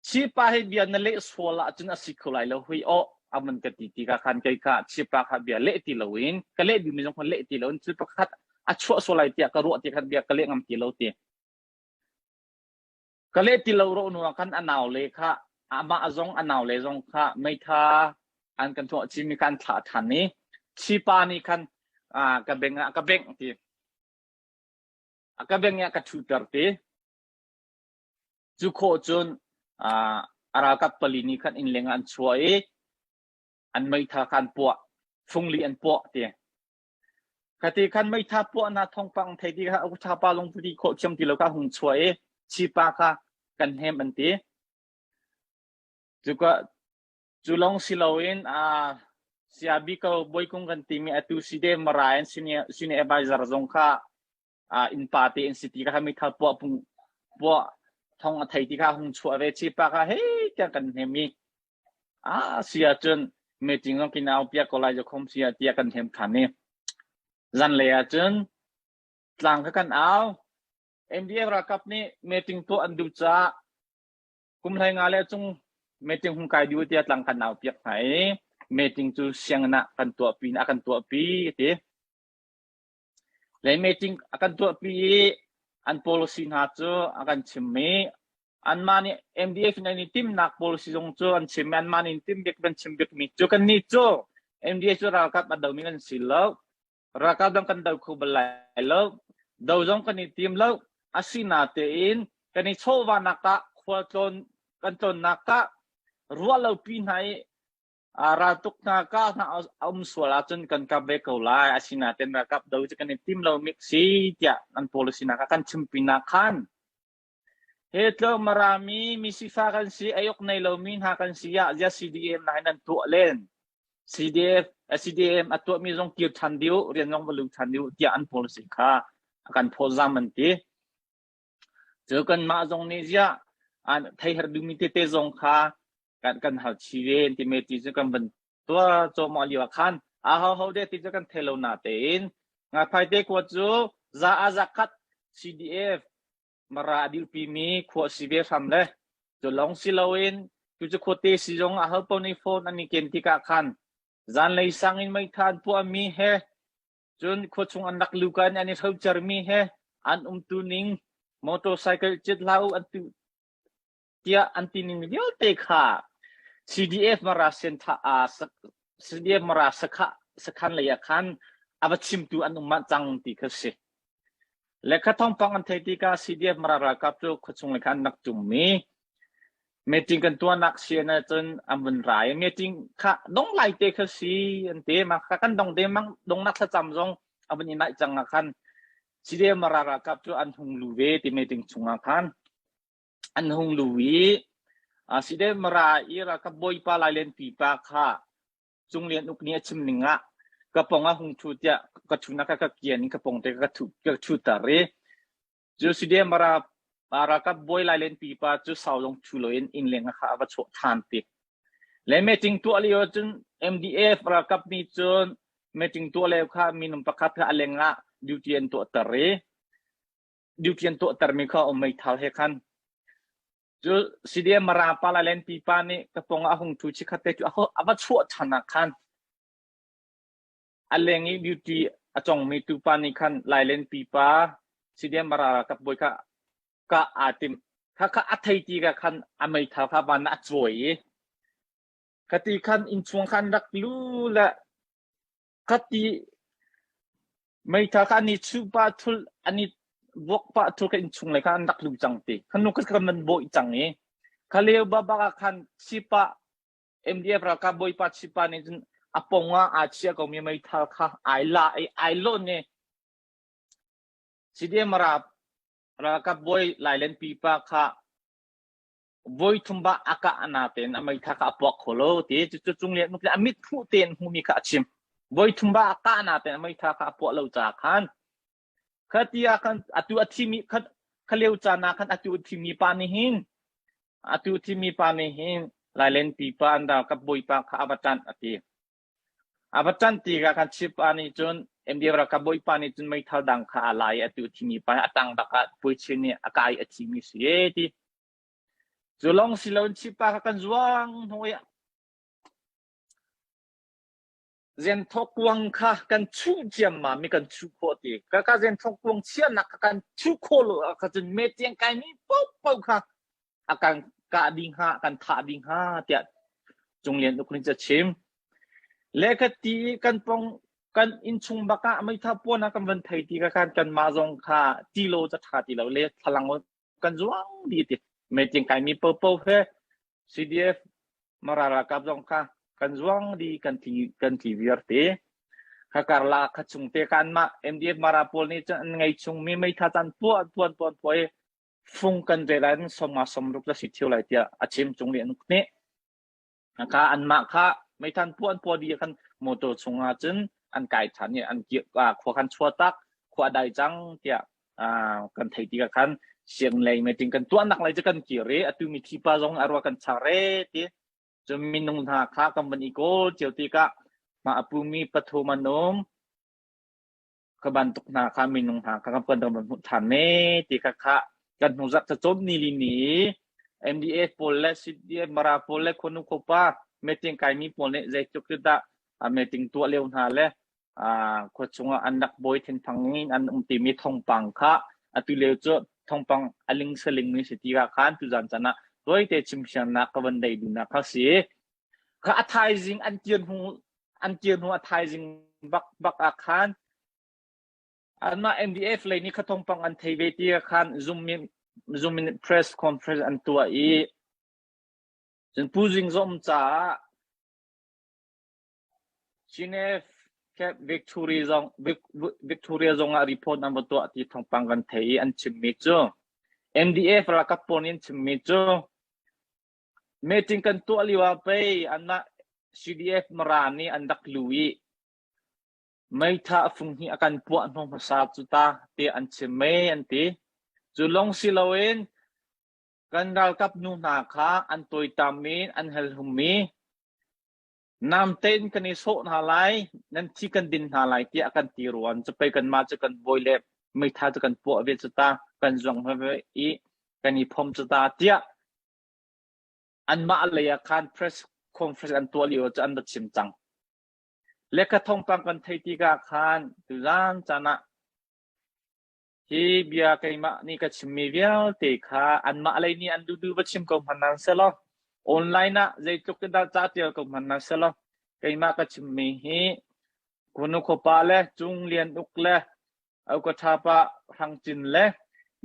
chipa he bia na leh sual ahcun a si kho lai lo hui o aman ka ti ti ka khan kai ka chipa kha bia leh ti lo in ka leh dimi zong khan leh ti lo in cu pakhat a chuah sual lai tiah ka ruah ti khan bia ka leh ngam ti lo ti Ka leh ti lo rawh nu kan a nau le kha amah zong a nau le zong kha meitha an kan tuah cim i kan thlah ṭhan i chipa nih khan ka beng ah ka bengh ti. A ka bengh i a ka ṭhuter ti. Cu khawh cun a ralkap pali nih khan inn leng ah an chuah i an meitha kha an puah, fungli an puah ti. Ka te khan meitha puah hna thawngpang thei ti kha a uthapa lung tu ti khawh thiam ti lo kha a hung chuah i chipa kha kan hnem an ti. Cuka cu lawng si loin aa sia biko boikung kan timi atu si de mara in senior advisor zong kha uh, innpa te an si ti ka meithal puah pung puah thong a thei ti kha hung chuah ve chi pa kha hei tiang kan hnem i a sia cun meeting ong kin au pia ko lai khom sia tia kan hem khan ni zan le a cun tlang ka kan au NDF rakap ni meeting to an du cha kum lai nga le chung meeting hung kai du tia tlang kan au piak ngai meeting cu siang na kan tua pin a kan tua pi ti Lei meeting a kan tuahpi i an policy hna cu a kan chim i anmah nih MDF nih an i timnak policy zong cu an chim i anmah nih an tim bik an chim bikmi cu kannih cu MDF cu ralkap a domi kan si lo ralkap dang kan do kho bal lai lo do zong kan i tim lo asi natein kan i chawhvahnak tah khualtlawn kan tlonnak tah ruah lopi hna i Aa raltuk hna ka hna a um sual ahcun kan kamh ve ko lai. Asinain ralkap do cu kan i tim lomi si tiah an policy nak ah kan chim pinah khan he tlo marami misifa kan si ayok nei lomi hna kan si ah zia CDM na nan tuah len CDF CDM a tuah mi zong kir than diu rian zong va lu than diu tiah an policy kha a kan phawzam an ti Cu kanmah zong nih ziah an theiher duhmi tete zong kha kan kan hal chih ve an timi ti cu kan van tuah cuahmah lio ah khan ahoho deh ti cu kan thei lo natein Ngakphaite khua cu za ah za khat CDF Mara a dirpimi khua a si ve hram le cu lawng si loin cu cu khua te si zong ah hal paoh nih phone an i ken tikah khan zanlei sang in meitha an puahmi he Cun khua chung an rak luka in an i hrocermi he an umtu ning motorcycle cit hlah u an tu tiah an ti ning vialte kha CDF Mara Center ah CDF Mara sakhan lei ah khan a va chimtu an um manh cang ti kha si. Lekha thawngpang an theih tikah CDF-Mara ralkap cu khuachung le khan nak tummi meeting kan tuahnak sian ahcun an vun ra i meeting kha dong lai te kha si an ti ma kha kan dong de mang dongnak thlacam zong a vun i naih cang ah khan CDF-Mara ralkap cu an hung lu ve ti meeting chungah khan an hung lu i CDF-Mara i ralkap bawipa lailen pipa kha Cung Lian Uk nih a chim ning ah ka pong a hung ṭhu tiah ka chungah ka ka kian i ka pong te ka ka ṭhuter i cu Sude Mara ralkap bawi lailen pipa cu sau lawng ṭhu loin innleng kha a va chuah ṭhan tik le meeting tuah lio cun MDF ralkap nih cun meeting tuah lio kha minung pakhat kha a leng ah duty an tuahter i duty an tuahtermi kha um meithal he khan cu side mara pala len pipa nih ka pong a hung thu chikhat te cu a va chuah than ah khan a leng i beauty a congmi tupa nih khan lailen pipa side mara ka boi ka ka a tim kha kha a thei ti ka khan a mei thau kha ban a chuai i kati khan in chung khan rak lu la ka ti meitha kha ani chuh pah thul ani vuak pah thul ka in chung lai kha an rak lu cang ti khanu ka kan man boi cang i khaleu baba ka khan chipa MDF ralkap bawipa chipa nih cun apong a achia ko mi meithal kha ai la ai ai lon ne CDM ra ralkap bawi lailen pipa kha voi thum ba a kah na tein a meitha kha a puak kho lo ti cucu cung lian a mithu tein hmuhmi kha a chim voi thum ba a kah na tein a meitha kha a puah lo ca khan kha ti ah khan atu a thimi khan khaleu ca na khan atu thimi pa ni hin atu thimi pa ni hin lailen pi pa an dal ka bawipa kha avatan ati A va ṭanh tikah khan Chippa nih cun MDF ralkap bawipa nih cun meithal dang kha a la i atu thimi pa hi a tang bak ah puichim nih a ka i a thimi a si ee ti. Cu lawng si loin Chippa kha kan zuang hnu i Zenthok kuang kha kan chuh ciammam i kan chuh khawh ti. Ka ka Zenthok kuang chiahnak kha kan chuh khawh lo ah kha cun metiang kai mi popo kha a kan kah ding hnga kan thah ding hnga tiah Cung Lian Uk nih a chim lekati kan pong kan inchung bakah meitha puan kan van thei ti ka khan kan ma zong kha ti lo cha tha ti lo le thalang kan zuang di ti meting kai mi popo he CDF marara kap zong kha kan zuang di kan thi kan thi viar te khakar la kha chung te kan ma MDF mara pol ni chan ngai chung mi meitha chan pu tuan tuan poi fung kan ve lai cun sawmnga sawm ruk na si ṭhio lai tiah a chim cung nih an uk hneh. Ka anmah kha meithan puh an puah dih kan motor chungah cun an kai ṭhan i an khua kan chuah tak khua dai cang tiah kan theih tikah khan siang lei meeting kan tuahnak lai cu kan kir i atu mi thipa zong arwa kan chang re ti cu minung hna kha kan van i kawl cio tikah mah apumi pathum an um ka bantuk hna kha minung hna kha kan puanter kan hmuh ṭhan ne ti kha kha kan hnuzak cacawn ni li ni MDA pawl le CDMRA pawl le khonu khopa meeting kai mi pawl nih zeitluk dah meeting tuah leo hna le khua chungah an rak bawi thenphang in an um timi thongpang kha atu leo cu thongpang aling saling ni si ti ka khan tu zan cana toite chimsiarnak ka van dei duna kha si ka a thaizing an kir hnu an kir hnu a thaizing bak bak ah khan anmah MDF lei ni khathong pang an thei ve ti khan Zoom Zoom press conference an tuah i cun Pu Zing Zom caah Geneva Cape Victoria zong Victoria zong ah report an va tuah ti thongpang kan thei i an chimmi cu MDF ralkap pawl nih an chimmi cu Meeting kan tuah lioah pei anmah CDF Mara nih an rak lu i meitha a fung hnih a kan puah hnawh hmasa cu ta tiah an chim mei an ti. Cu lawng si loin kan ralkap nu hna kha an tawitam i an helhum i Nam tein kan i sawh hna lai, nan thi kan din hna lai tiah a kan ti ruan. Cupei kanmah cu kan bawi le meitha cu kan puah ve cu ta, kan zuang ve i kan i phom cu ta tiah anmah lei ah khan press conference an tuah lio cu an va chim cang. Lekka thongtang kan thei tikah khan tuzan caan ah Hi bia keimah nih ka chimmi vialte kha anmah lei nih an dudu va chim ko hmanh nan selaw online ah zeitluk in dah ca ṭial ko hmanh nan selaw keimah ka chimmi hi kunu khuapa le cung lian uk le aukathapa hrangcin le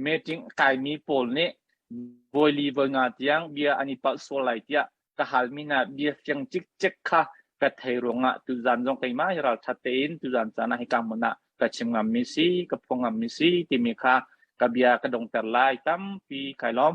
meeting kaimi pawl nih vawili voi nga tiang bia an i palh sual lai tiah ka hal min ah bia fiang cikcek kha ka thei ruangah tuzan zong keimah hi ralthat tein tuzan caan ah hika hmun ah ka chim ngammi si ka phuang ngammi si timi kha ka bia ka dongter lai tampi kai lawm.